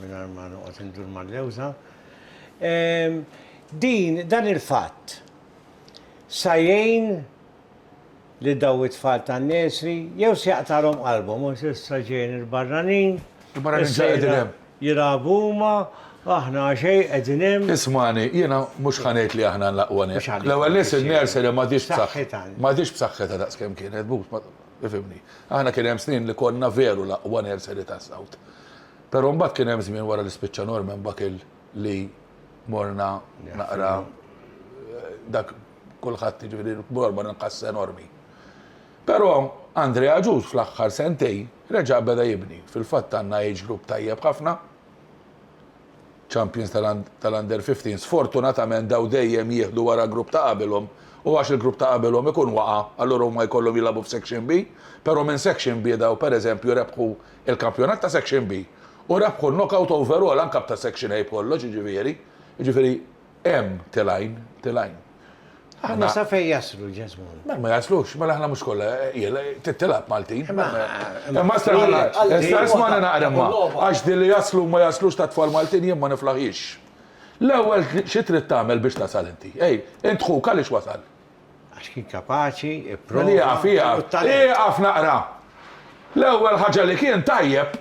mingħajr ma noqgħod indur mal-lewża. Din dan il-fatt sa jgħin li daw it-tfal tan-nursery jew se jaqtagħlhom qalbhom għax issa ġejjin il-barranin. Il-barranin ġejjin hemm. Jilgħabu huma, aħna għaxejn qegħdin hemm. Ismagħni, jiena mhux ħa ngħid li aħna l-aqwa nett. L-ewwel nett in-nursery m'għadhiex b'saħħitha. M'għadhiex b'saħħitha daqs kemm kienet, but, ifhimni. Aħna kien hemm snin li konna veru l-aqwa nursery tas-South. Però mbagħad kien hemm żmien wara li spiċċa Norman Buckle li morna naqra dak kulħadd jiġifieri Norman inqas enormi. Però Andrea Agius fl-aħħar sentejn Reġa' beda jibni. Fil-fatt għandna age group tajjeb ħafna. Champions tal-Under 15 sfortunatament daw dejjem jieħdu wara grupp ta' qabilhom u għax il-grupp ta' qabilhom ikun waqa' allura huma jkollhom jilagħbu f'Section B, però minn Section B daw pereżempju rebħu l-kampjonat ta' Section B u rebħu l-knockout overall anke ta' Section A b'kollox jiġifieri, jiġifieri, Hemm telgħin, telgħin. Aħna sa fejn jaslu ġeżmun? Mela ma jaslux, mela aħna mhux kollha qiegħla titilab Maltin. Imma staqsmana naqra ma. Għax din li jaslu ma jaslux ta' tfal Maltin jien ma niflaħhiex. L-ewwel xi trid tagħmel biex tasal inti? Ej, int ħuk għaliex wasal? Għax kien kapaċi, ipprova. Ieqaf, ieqaf, ieqaf naqra. L-ewwel ħaġa li kien tajjeb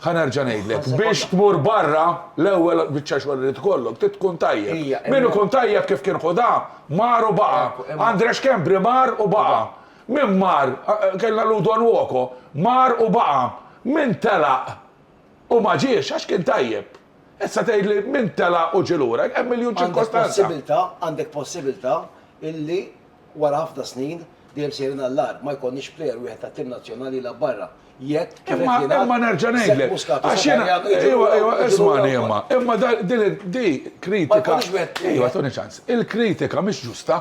Ħa nerġa' ngħidlek, biex tmur barra, l-ewwel biċċa xogħol irid ikollok, trid tkun tajjeb. Min ikun tajjeb kif kien Ħudà, mar u baqa'. Andrea Schembri mar u baqa'. Min mar, kellna Ludo Nwokoh, mar u baqa'. Min telaq u ma ġiex għax kien tajjeb. Issa tgħidli min telaq u ġie lura, hemm miljun ċirkostanza. Għandek possibilità, għandek possibilità illi. Wara ħafna snin, dejjem sejrin għall-agħar, ma jkollniex plejer wieħed tat-tim nazzjonali jilgħab barra, jekk Greg Imma Linnart, imma nerġa' Sepp ngħidlek, Muscat u għax jiena, Sakarjan iġu ejwa, lura ejwa, wkoll, iġu lura ismagħni imma, wkoll. imma da- din il- di kritika, Ma jkollniex wieħed ejwa, wieħed. tuni ċans, il-kritika mhix ġusta.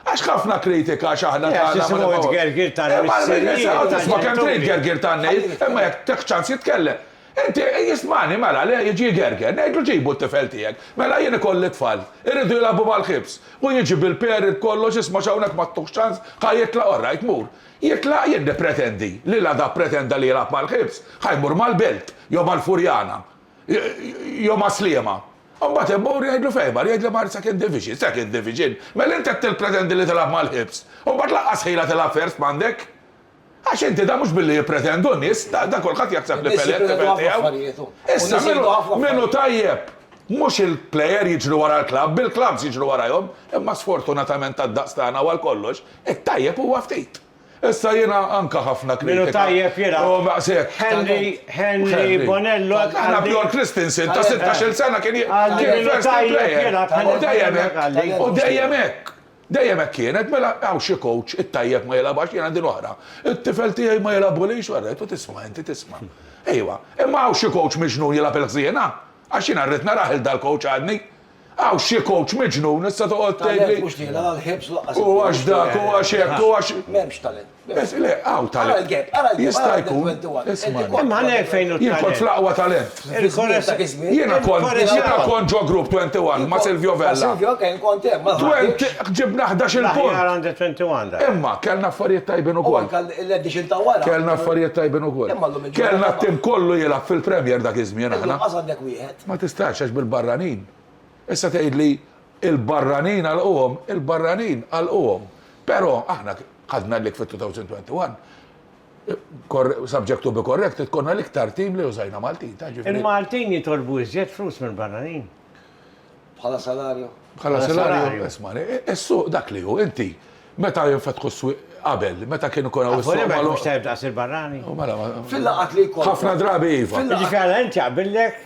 Għax ħafna kritika għax aħna Le, għax tagħna ma isimgħu nibgħu- t-tgergir tal-missirijiet, Imma, isma' kemm trid tal-ġenituri. gergir tan-nejl, imma jekk tieħx ċans jitkellem. Inti, ismagħni, mela, le, jiġi jgerger. Ngħidlu ġibu t-tifel tiegħek. Mela, jien ikolli tfal. Iridu jilagħbu mal-ħibs. Hu jiġi bil-period kollox, isma' x'hawnhekk ma ttuhx ċans, ħa jitlaq, orrajt, mur. Jitlaq, jien nippretendi li la da ppretenda li jilgħab mal-ħibs, ħa jmur mal-Belt, jew mal-Furjana, jew mas-Sliema. U mbagħad imur, ngħidlu fejn mar, jgħidli mar Second Division. Second Division? Mela inti qed tippretendi li tilgħab mal-ħibs? U mbagħad lanqas ħila tilgħab First m'għandek? Għax inti dan mhux billi jippretendu n-nies, dan kulħadd jaħseb li Pelé t-tifel tiegħu. Issa min hu tajjeb? Mhux il-plejer jiġru wara l-klabb, il-klabbs jiġru warajhom, imma sfortunatament għad-daqs tagħna u għal kollox, it-tajjeb huwa ftit. Issa jiena anke ħafna kritika. Min hu tajjeb jilgħab. U maqsek. Henry, Henry Bonello. Aħna Bjorn Christensen ta' 16-il sena kien jilgħab. U dejjem hekk. U dejjem hekk. Dejjem hekk kienet, mela hawn xi coach, it-tajjeb ma jilgħabhax, jiena din oħra. It-tifel tiegħi ma jilgħabulix, wara qed u tisma' inti, tisma'. Ejwa, imma hawn xi coach miġnun jilgħab il-ħżiena? Għax jiena rrid narah lil dal-coach għadni. Hawn xi coach miġnun issa toqgħod tgħidli. Talent mhux dieħla la l-ħiebs u lanqas il-ħmur. U għax dak, u għax hekk, u għax. M'hemmx talent. Bes, le, hawn tal. Ara l-gap, ara l-gap. Jista' jkun. Ismagħni. Imma għalhekk fejn hu t-talent. Jien kont fl-aqwa talent. Il-kores. Jiena kont, jiena kont ġo grupp 21 ma' Silvio Vella. Ma' Silvio, ok, kont hemm, ma' Twenty, ġibna ħdax-il punt. L-aħjar under 21 dak. Imma kellna affarijiet tajbin ukoll. U anke l-edition ta' wara. Kellna affarijiet tajbin ukoll. Imma llum il-ġurnata. Kellna t-tim kollu jilgħab fil-Premier dak iż-żmien aħna. Illum qas għandek wieħed. Ma tistax għax bil-barranin. Issa tgħidli, Il-barranin għalquhom, il-barranin għalquhom. Però aħna ħadna l-lig fit-2021, subject to be corrected, konna l-iktar tim li użajna Maltin, taf jiġifieri. Il-Maltin jitolbu iżjed flus mill-barranin? Bħala salarju? Bħala salarju? Ismagħni, is-suq dak li hu, inti meta jinfetħu s-swieq qabel, meta kien ikun hawn is-suq magħluq. Mhux tajjeb daqs il-barrani? Fil-laqgħat li jkollna. Ħafna drabi iva. Jiġifieri allura inti jaqbillek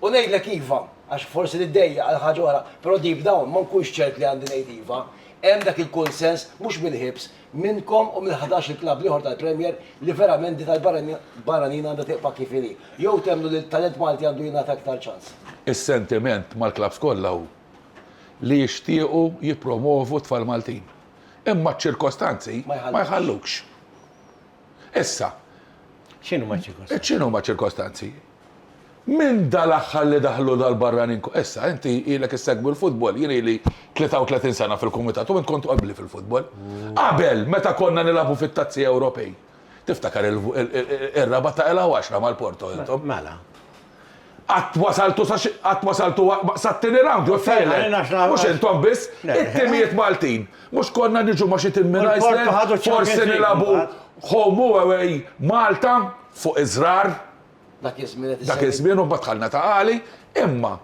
U ngħidlek iva, għax forsi niddejjaq għal ħaġa oħra, però deep down ma nkunx ċert li għandi ngħid iva. Hemm dak il-kunsens, mhux mill-ħiebs, minnkom u mill-ħadax il klabb l-ieħor tal-Premier li verament din tal-barranin għandha tibqa' kif inhi. Jew temmnu li t-talent Malti għandu jingħata iktar ċans? Is-sentiment mal-klabbs kollha hu li jixtiequ jippromwovu t-tfal Maltin. Imma ċ-ċirkostanzi ma jħallukx. Issa, X'inhuma ċ-ċirkostanzi? x'inhuma ċ-ċirkostanzi? Minn dal-aħħar li daħlu dal-barranin ko-, issa, inti ilek issegwi l-futbol, jien ili 33 sena fil-kumitat u int kont qabli fil-futbol. Qabel, meta konna nilagħbu fit-Tazzi Ewropej, tiftakar ir-raba' ta' Ela u Għaxra mal-Porto intom? Mela. Qatt wasaltu sa xi, qatt wasaltu sat-tieni round jew t-tielet. Mhux intom biss, it-timijiet Maltin. Mhux konna niġu ma' xi tim minn Iceland, forsi nilagħbu home u away Malta fuq iż-żrar. Dak iż-żmien qed issemmi. Dak iż-żmien u mbagħad dħalna ta' għali. Imma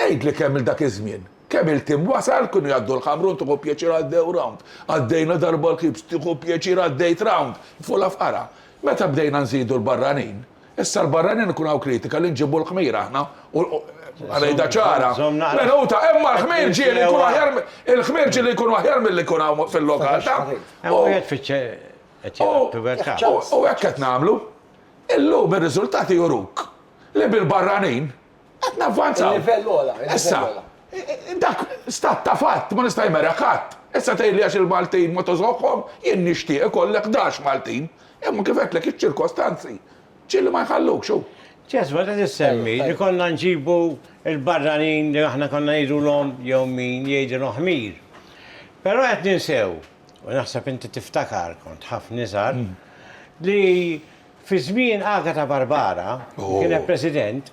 għidli kemm il dak iż-żmien, kemm il-tim wasal, kienu jgħaddu l-Ħamrun tieħu pjaċir għaddew round, għaddejna darba l-Kibz tieħu pjaċir għaddejt round, fuq la fqara. Meta bdejna nżidu l-barranin, Issa l-barranin ikun hawn kritika li nġibu l-ħmir aħna u Żomm- rejda ċara. żomm naqra. Minuta, imma l-ħmir ġieli jkun aħjar mi- il-ħmir ġieli jkun aħjar milli jkun hawn fil-lokal ta' Hemm u wieħed fiċċe qed u- jgħid pubertà. u- u hekk qed nagħmlu. Illum ir-riżultati juruk li bil-barranin Qed navvanzaw. Il-livell ola, il-livell ola. Dak stat ta' fatt ma nista' jmeraq qatt. Issa tgħidli għax il-Maltin ma tożoqhom, jien nixtieq ikollek ħdax Maltin. Imma kif għedtlek iċ-ċirkostanzi ġieli ma jħallukx u. Ġest, meta tissemmi li konna nġibu l-barranin li aħna konna ngħidulhom jew min jgħidilhom ħmir. Però qed ninsew, u naħseb inti tiftakar kont ħafna iżgħar, li Fi żmien Agata Barbara, li kienet President,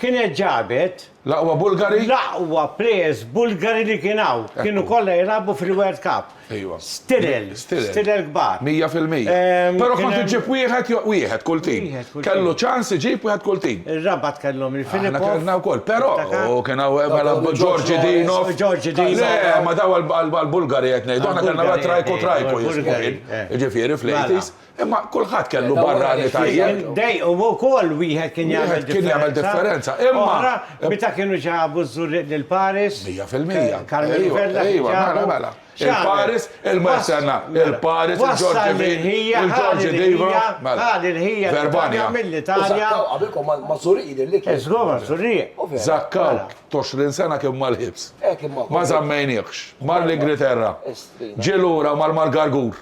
kienet ġabet. L-aqwa Bulgari? L-aqwa players Bulgari li kien hawn. Kienu kollha jilagħbu fil-World Cup. Ejwa. Stilel. Stilel. Stilel kbar. Mija fil-mija. Ehm. Però kont iġġib wieħed jew wieħed kull tim. Wieħed kull tim. Kellu ċans iġib wieħed kull tim. Ir-Rabat kellhom il-Filippov. Aħna kellna wkoll. Però u kien hawn mela George Dinov. George Dinov. Le, ma daw għall-Bulgari qed ngħidu. Aħna kellna Trajko Trajko jismu kien. Ġifieri fl-80s. Imma kulħadd kellu barrani tajjeb. Dej, u wkoll wieħed kien jagħmel differenza. Wieħed kien jagħmel differenza. Imma. Meta kienu ġabu ż-Żurrieq lil Paris. Mija fil-mija. Karmenu Vella. Ejwa, mela, mela. Il-Paris, il-Marsenna, il-Paris, il-Ġorġi Villa, il-Ġorġi Diva. Mela. Il-ħija. Verbania. Mill-Italja. Qabilkom ma' Żurrieq jidher li kien. Żgur ma' Żurrieq. Zakkaw, toxrin sena kien mal-ħibs. Ma zammejniekx. Mar l-Ingriterra. Ġielura mar-Malgargur.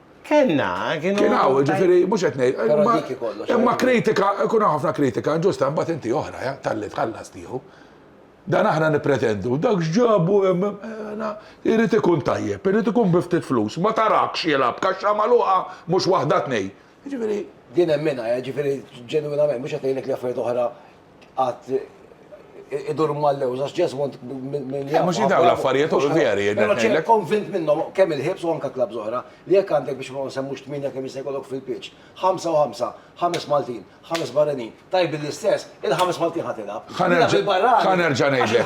Kellna, kienu. Kien hawn, ġifieri mhux qed ngħid. Però dik hi kollox. Imma kritika, ikun hawn ħafna kritika inġusta, imbagħad inti oħra, ja, talli tħallas tieħu. Dan aħna nippretendu, dak x'ġabu hemm, na, irid ikun tajjeb, irid ikun bi ftit flus, ma tarakx jilgħab kaxxa magħluqa mhux waħda tnejn. Jiġifieri. Din hemm minnha, ja, ġifieri ġenwinament, mhux qed ngħidlek li affarijiet oħra qatt idur mal-lewż, għax Jesmond minn jgħid. Mhux jidaw l-affarijiet u veri. Però ċe konvint minnhom kemm il-ħibs u anke klabb żoħra li jekk għandek biex ma nsemmux tmienja kemm jista' jkollok fil-pitch. Ħamsa u ħamsa, ħames Maltin, ħames barranin, tajbin l-istess, il-ħames Maltin ħadd ilgħab. Ħa nerġa' ngħidlek.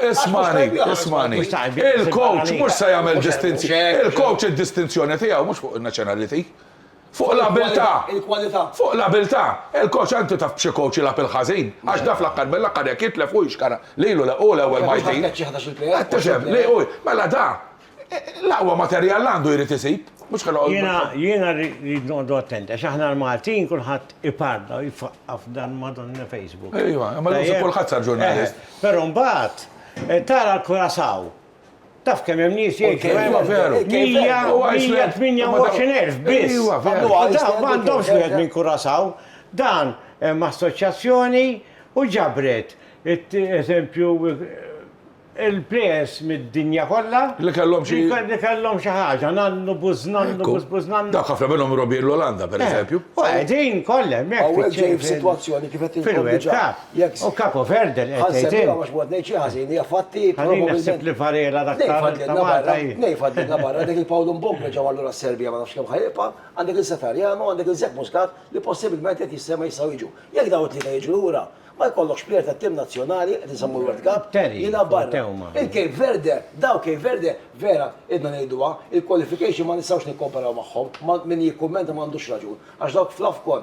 Ismani, ismani. Il-coach mhux se jagħmel distinzjoni. Il-coach id-distinzjoni tiegħu mhux fuq in-nazzjonality. Fuq l-abiltà! Fuq l-abiltà! Il-coach antu taf b'xi coach jilgħab il-ħażin, għax da fl-aħħar mill-aħħar jekk jitlef hu jixkara lilu le hu l-ewwel Maltin. Qed tifhem li hu mela da l-aqwa materjal għandu jrid isib, mhux ħa noqgħodu Jiena jiena rrid noqogħdu attenti għax aħna l-Maltin kulħadd iparla u jfaqqa' f'dan Madonna Facebook. Ejwa, imma llum sib kulħadd sar ġurnalist. Però mbagħad tara l-Curaçao. Taf kemm hemm nies jgħixu hemm? Iva veru. 128,000 biss. Iva veru. U dawn m'għandhomx wieħed minn Kurasaw. Dan hemm assoċjazzjoni u ġabret eżempju il-plejers mid-dinja kollha. Li kellhom xi. Li kellhom xi ħaġa, nannu, buż nannu, buż buż nannu. Dawk ħafna minnhom irgħobin l-Olanda pereżempju. U qegħdin kollha hemmhekk. Hawnhekk ġej f'sitwazzjoni kif qed inkompli ġara. O Capo Verde li qed tgħid int. Ħa nsemmiha għax mod ngħid xi ħażin hija fatti. Ħallini naħseb li Varela dak ta' Malta hi. Ngħid fadlilna barra dik il-Paul Mbogna ġew allura s-Serbja ma nafx kemm ħa jibqa', għandek lil Satariano, għandek lil Zek Muscat li possibilment qed jissemgħu jistgħu jiġu. Jekk dawn it-tlieta jiġu lura, ma jkollokx plejer tat-tim nazzjonali qed insemmu l-World Cup jilgħab barra. Il-Cape Verde, dawn Cape Verde vera ilna ngħiduha, il-qualification ma nistgħux nikkomparaw magħhom, min jikkummenta m'għandux raġun għax dawk fl-Afcon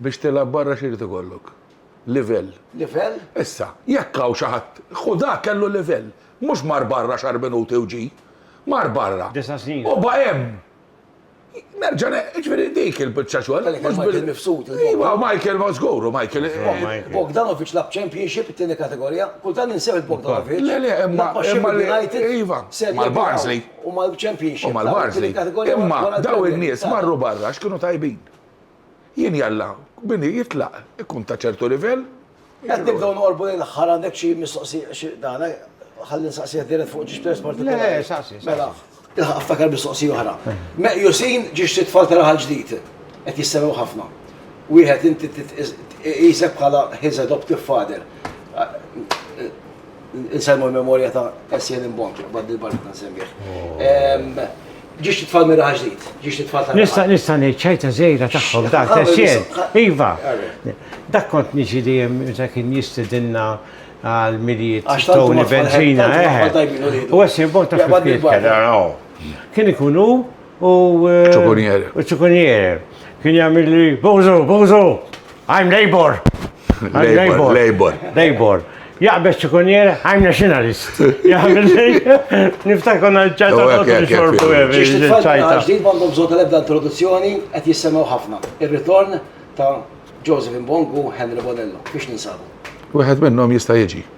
Biex tilgħab barra x'irid ikollok? Livell. Livell? Issa, jekk hawn xi ħadd, Ħudah kellu livell. Mhux mar barra xahar minuti u ġie. Mar barra. Disa' snin. U baqa' hemm. Nerġa' ne, jiġifieri dik il-biċċa xogħol. Kellek hemm Michael Mifsud. Iva, Michael ma żgur, u Michael. Bogdanovic lagħab Championship it-tieni kategorija. Kultant ninsew il-Bogdanovic. Le, le, imma. Imma l-United. Iva. Mal-Barnsley. U mal-Championship. U mal-Barnsley. Imma daw in-nies marru barra x'kienu tajbin. Jien jalla, bini jitlaq, ikun ta' ċertu livell. Qed nibdew noqorbu lejn l-aħħar, għandek xi mistoqsija xi dan, ħalli nsaqsih dirett fuq ġiex pers partikolari. Le, le, saqsi, saqsi. Mela, ilħaq iftakar mistoqsija oħra. Meqjusin ġiex sitt tfal ta' raħal ġdid, qed jissemgħu ħafna. Wieħed inti tqisek bħala his adoptive father. Insajmu l-memorja ta' SN Imbont, bad il-barra ta' nsemmieħ. Ġiex titfall mirra ġdid, ġiex titfall ta' Nista' nista' ngħid ċajta żejra tagħhom dak SN. Iva, dak kont niġi li hemm meta kien jistidinna għal milijiet tawni benzina. U SN Imbont ta' kien ikunu u. Ċukunjere. U ċukunjere. Kien jagħmel li bozo, bozo, I'm labor. Labor, labor. Labor. Jaqbeż ċukunjere, I'm nationalist. Jagħmel li. Niftakar konna ċajta għodu xorbu għevi. ċajta. Ġdid għandhom bżonn tal-ebda introduzzjoni qed jissemgħu ħafna. Ir-ritorn ta' Joseph Mbongu Henry Bonello biex ninsabu. Wieħed minnhom jista' jiġi.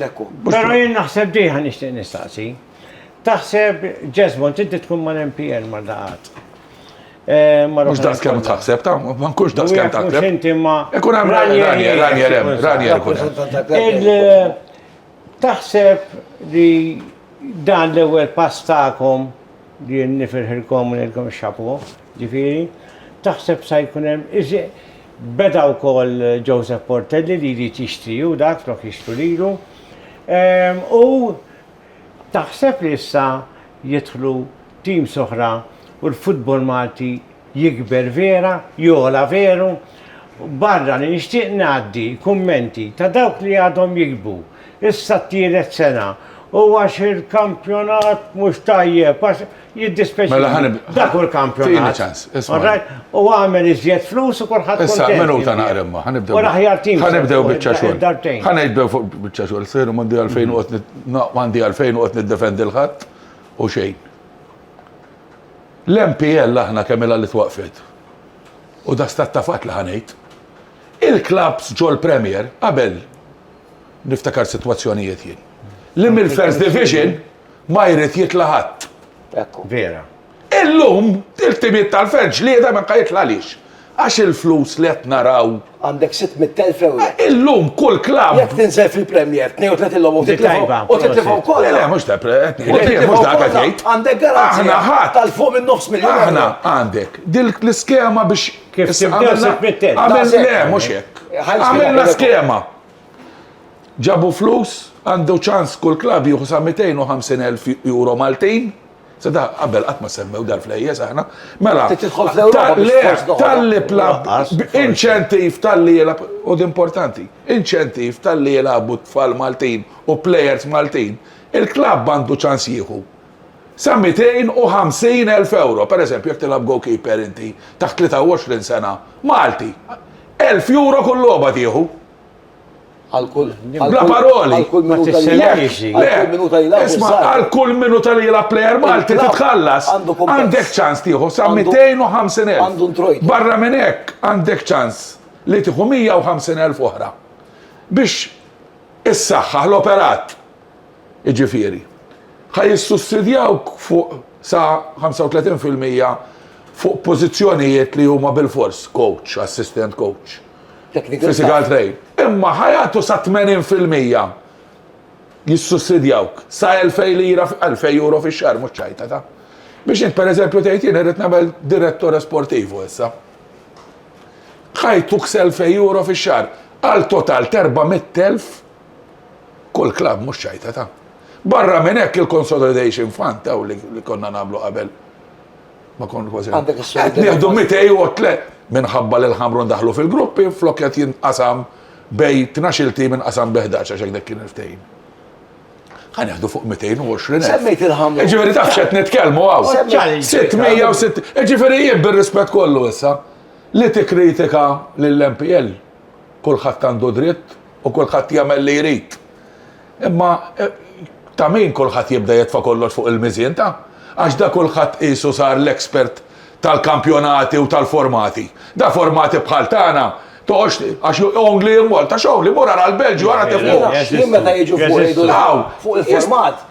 Lekku. Pero jien naħseb diħa nixtieq nistaqsi. Taħseb Jesmon tiddi tkun ma' MPN ma' daqat. Eh, Mux daqs kem taħseb, ta' ma nkunx daqs kem taħseb. Inti ma. Ikun għam ranjer, ranjer, ranjer ikun. Eh, taħseb li dan l-ewel pass ta'kom li nifirħilkom u nilkom xapu. Ġifieri, taħseb sa jkun hemm iżjed? Beda wkoll Joseph Portelli li jrid jixtri hu dak flok jixtru lilu. U taħseb li issa jidħlu teams oħra u l-futbol Malti jikber vera, jogħla veru? Barra li nixtieq ngħaddi kummenti ta' dawk li għadhom jiktbu, issa t-tielet sena, u għax il-kampjonat mhux tajjeb, għax. Jiddispeċi. Mela ħanib. Dak u l-kampjonat. Tini ċans. All right. U għamel iżjed flus u kulħadd. Issa, menu ta' naqrem ma. Ħanibdew. U l-aħjar tim. Ħanibdew bieċa xogħol. Dartejn. Ħanibdew fuq bieċa xogħol. Sejru mandi għalfejn u għotni. Mandi għalfejn u għotni d-defendi l-ħadd u xejn. L-MPL aħna kemm il li twaqfet. U da stat ta' fatt li ħanejt. Il-klabs ġol Premier qabel niftakar situazzjonijiet jien. Li mill-First Division ma jrid jitla' ħadd. Ekku. Vera. Illum, il-ħtimiet tal-fern ġlieda ma jitlagħlix. Għax il-flus li qed naraw. Għandek 600,000 ewro. Illum kull klabb. Jekk tinżel fil-Premier 32 logħba u titlifha u titlifha wkoll. Le, le, mhux ta' mhux dak qed jgħid. Għandek garanzija tal fuq minn nofs miljun. Aħna għandek dik l-iskema biex. Kif tibdew 600,000. Le, mhux hekk. Għamilna skema. Ġabu flus, għandu ċans kull klabb jieħu sa 250,000 euro Maltin. Se da qabel qatt ma semmew dal-flejjes aħna. Mela, tal-li plab, inċentiv tal-li jilab, u d-importanti, inċentiv tal-li jilabu tfal Maltin u plejers Maltin, il-klabb għandu ċans jieħu. sa 250 elf ewro, pereżempju jekk tilgħab goalkeeper inti taħt 23 sena, Malti, elf ewro kull logħba tieħu. Għal kull Bla paroli. Għal kull minuta li jilgħab. Isma' għal kull minuta li jilgħab plejer Malti titħallas. Għandek ċans tieħu sa 250 elf. Barra minn hekk għandek ċans li tieħu 150 elf oħra. Biex issaħħaħ l-operat jiġifieri, ħa jissussidjaw fuq sa 35 fil-mija fuq pożizzjonijiet li huma bilfors coach, assistant coach, physical trainer. Imma ħa jagħtu sa 80 fil-mija jissussidjawk sa 2000 lira, 2000 euro fix-xahar mhux ċajta ta'. Biex int pereżempju tgħid jien irrid nagħmel direttore sportivo issa. Ħa jtuk s' 2000 euro fix-xahar għal total t'erbgħa mitt elf Kull klabb mhux ċajta ta. Barra minn hekk il-consolidation fund taw li konna nagħmlu qabel. Ma kon kważi. Qed nieħdu 203 minħabba li l-ħamrun daħlu fil-gruppi flok qed jinqasam bej 12 tim inqasam bi 11 għax dak kien il-ftehim ħan jahdu fuq 220. Semmejt il-ħamra. Ġifiri taf xed nitkelmu għaw. 606. Ġifiri jien bil-rispet kollu issa li t-kritika l-MPL Kulħadd għandu dritt u kulħadd jagħmel li jrid. Imma ta' min kulħadd jibda jetfa' kollox fuq il-miżien ta'? Għax da kulħadd qisu sar l-expert tal-kampjonati u tal-formati. Da formati bħal tagħna toqgħodx għax only in Malta x'only? Mur ara l-Belġju ara kif hu. Jien meta jiġu fuq ngħidulhom fuq il-format.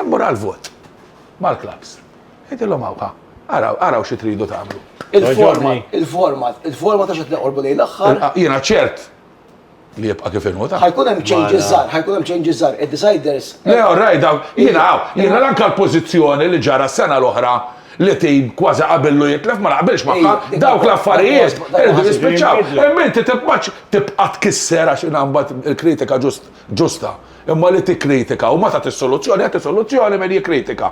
Immur għall-vot mal-klabbs. Ngħidilhom hawn ha, araw, araw xi tridu tagħmlu. Il-format, il-format, il-format għax qed neqorbu lejn l-aħħar. Jiena ċert li jibqa' kif inhu ta'. Ħajkun hemm changes żgħar, ħajkun hemm changes żgħar, id-deciders. Le, orraj dawn, jiena hawn, jiena l-anka l-pożizzjoni li ġara s-sena l-oħra li tim kważi qabillu jitlef ma naqbilx magħha, dawk l-affarijiet irridu jispiċċaw. Imma inti tibqa' tkisser għax inha mbagħad il-kritika ġusta. Imma li tikkritika u ma tagħtix soluzzjoni, agħti soluzzjoni min jikkritika.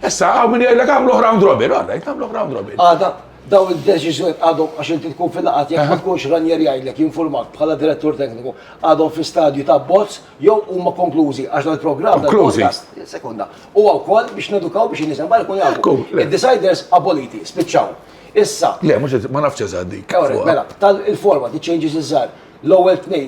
Issa hawn min jgħidlek agħmluh round robin, all right, agħmluh round robin. Għada, dawn id-deċiżjonijiet għadhom għax inti tkun fil-laqgħat jekk ma tkunx Ranieri jgħidlek jinfurmak bħala direttur tekniku għadhom fi stadju ta' bozz jew huma konklużi għax dan il-programm Konklużi. tal-podcast sekonda. U wkoll biex nedukaw biex in-nies hemm jkun jafu. Ekku, le. Id-deciders aboliti, spiċċaw. Issa, Le, mhux ma nafx eżatt dik. Ewrek, fuqha. mela, tal-format, it-changes iż-żgħar, l-ewwel tnejn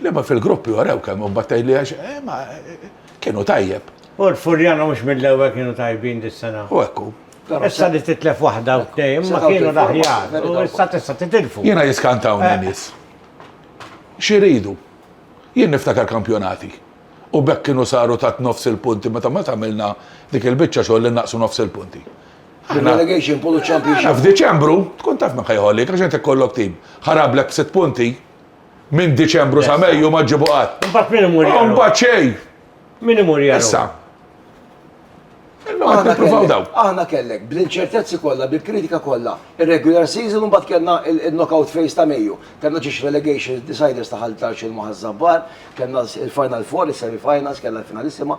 L-imgħa fil-gruppi warew kemm huma tajbin għax imma kienu tajjeb. U l-Furjana mhux mill-ewwel kienu tajbin dis-sena. U hekk hu. Issa li titlef waħda u tnejn imma kienu l-aħjar u issa tista' titilfu. Jiena jiskantawni n-nies. X'iridu? Jien niftakar kampjonati u b'hekk kienu saru tat nofs il-punti meta mbagħad għamilna dik il-biċċa xogħol li nnaqqsu nofs il-punti. Relegation pool u championship. F'Diċembru tkun taf min ħa jħollik għax int ikollok tim ħarablek b'sitt punti. Minn Diċembru sa Mejju ma ġġibu qatt. Imbagħad min imur jara? Imbagħad xejn. Min imur jara? Issa. Illum aħna provaw daw. Aħna kellek bl-inċertezzi kollha, bil-kritika kollha, ir-regular season u mbagħad kellna il-knockout phase ta' Mejju. Kellna ġiex relegation deciders ta' ħaltar xil maħazzabbar, kellna il-final four, is-semi finals, kellna l-finalissima.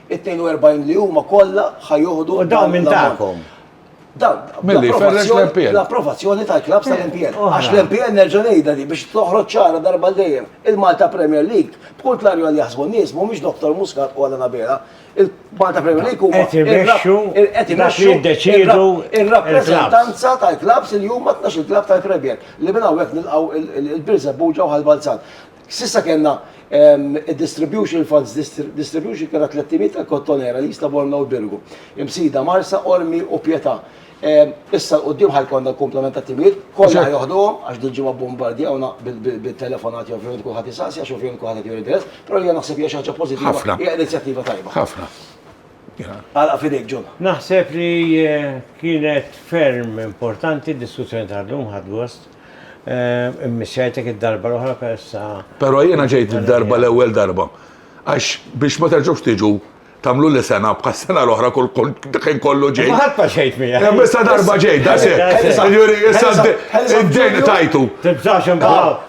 It-42 li huma kollha ħa joħdu. U dawn minn tagħkom. L-approvazzjoni tal-klabs tal-MPN. Għax l-MPN nerġa' ngħidha di biex toħroġ ċara darba dejjem il-Malta Premier League. B'kull klarju għal jaħsbu nies mhumiex Dr. Muscat u għal Anabela. Il-Malta Premier League huma qed imexxu qed imexxu jiddeċiedu ir-rappreżentanza tal-klabs li huma tnax il-klab tal-Premier li minn hawnhekk nilqgħu il-Birżebbuġa u Ħal Balzan. S'issa kellna d-distribution funds distribution kellha tlett timiet ta' Kottonera, l-Isla, Bormla u l-Birgu. Imsida, Marsa, Qormi u Pietà. Issa 'l quddiem ħa jkollna l-kumplament ta' timiet, kollha ħa joħduhom għax dil-ġimgħa bbombardjawna bit-telefonati ovvjament kulħadd isaqsi għax ovvjament kulħadd qed juri interess, però jiena naħseb hija xi ħaġa pożittiva, hija inizjattiva tajba. Ħafna. Għalaq f'idejk, John. Naħseb li kienet ferm importanti d-diskussjoni tal-lum, ħadt gost. Immissjajtek id-darba l-oħra persa. Però jiena ġejt id-darba l-ewwel darba. Għax biex ma terġgħux tiġu tamlu li sena bħas sena l-oħra kull kien kollu ġej. Ħadd ma xejt mija. Hemm issa darba ġej, da se. Issa d-dejn tajtu. Tibżax imbagħad.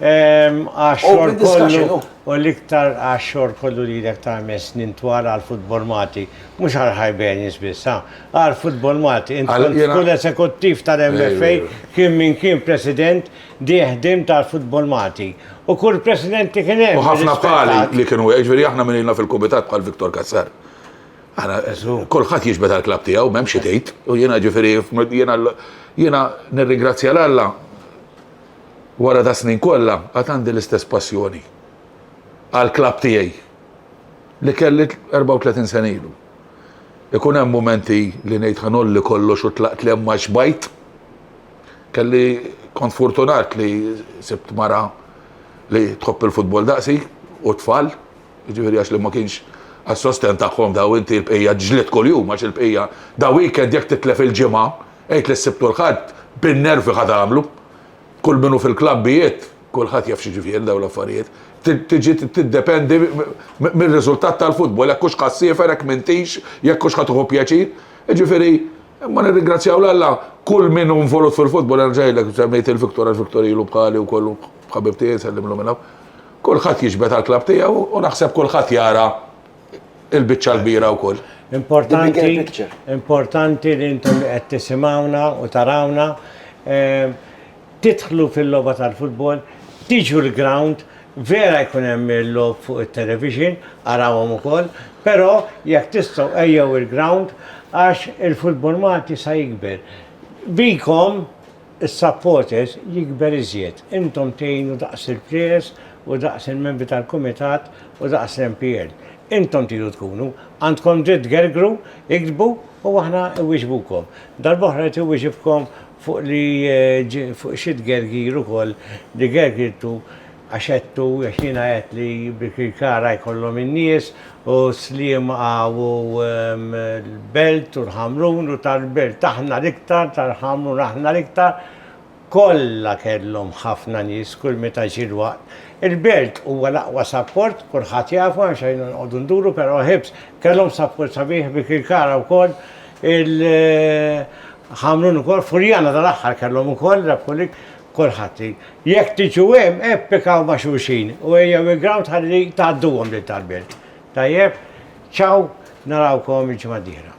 Għax-xogħol kollu u l-iktar għax-xogħol kollu li ilek ta' ħames snin twal għal Football Malti, mhux għal Hibernians biss, ha, għal Football Malti. Int kont kull esekuttiv tal-MFA kien min kien president dih ħdimt għal Football Malti. U kull president li kien hemm. U ħafna bħali li kienu hekk, jiġifieri aħna min ilna fil-kumitat bħal Victor Cassar. Kulħadd jiġbed għall-klabb tiegħu m'hemm xi tgħid. U jiena ġifieri jiena nirringrazzja l-Alla Wara das-snin kollha għad għandi l-istess passjoni għall-klabb tiegħi li kelli 34 sena ilu. Ikun hemm mumenti li ngħid ħa ngħolli kollox u tlaqt li hemm ma xbajt. Kelli kont furtunat li sibt mara li tħobb il-futbol daqsi u tfal. Jiġifieri għax li ma kienx għas-sostenn tagħhom daw inti l-bqija ġlidt kuljum għax il-bqija da weekend jekk titlef il-Ġimgħa għid li s-Sibt u l-Ħadd bin-nervi ħa tagħmlu. Kull min hu fil-klabbijiet kulħadd jaf x'jiġifieri daw l-affarijiet. Tiġi tiddependi mir-riżultat tal-futbol jekk hux ħassiefer jekk m'intix jekk hux ħa tieħu pjaċir. Jiġifieri Imma nirringrazzjaw 'l Alla kull min hu involut fil-futbol, nerġa' ngħidlek, semmejt il-Victor għax Victor ilu bħali wkoll hu ħabib tiegħi nsellimlu minn hawn. Kulħadd jiġbed għall-klabb tiegħu u naħseb kulħadd jara l-biċċa l-kbira wkoll. Importanti, importanti li intom li qed tisimgħuna u tarawna, Tidħlu fil-logħba tal-futbol, tiġu l-grawnd, vera jkun hemm il-logħob fuq it-television, arawhom ukoll, però jekk tistgħu ejjew il-grawnd għax il-futbol Malti sa jikber. Bikom, is-supporters, jikber iżjed. Intom tgħinu daqs il-players u daqs il-membri tal-kumitat u daqs l-MPL. Intom tridu tkunu. Għandkom dritt tgergru, iktbu u aħna iwieġbukom. Darb'oħra jrid iwieġibkom Fuq li fuq xi tgergir ukoll li gergirtu għax għedtu, għax jiena għedt li b'Kirkara jkollhom in-nies u Sliema u l-Belt u l-Ħamrun u tal-Belt aħna l-iktar, tal-Ħamrun aħna l-iktar, kollha kellhom ħafna nies kull meta ġie l-waqt. Il-Belt huwa l-aqwa sapport, kulħadd jafu, m'hemmx għaliex noqogħdu nduru, però ħibs, kellhom sapport sabiħ b'Kirkara wkoll, Il-Ħamrun ukoll, Furjana tal-aħħar kellhom ukoll rebħu lig, kulħadd. Jekk tiġu hemm, ippikaw ma' xulxin u ejjew il-grawnd ħalli tgħadduhom lil tal-belt. Tajjeb? Ciao, narawkom il-ġimgħa d-dieħla.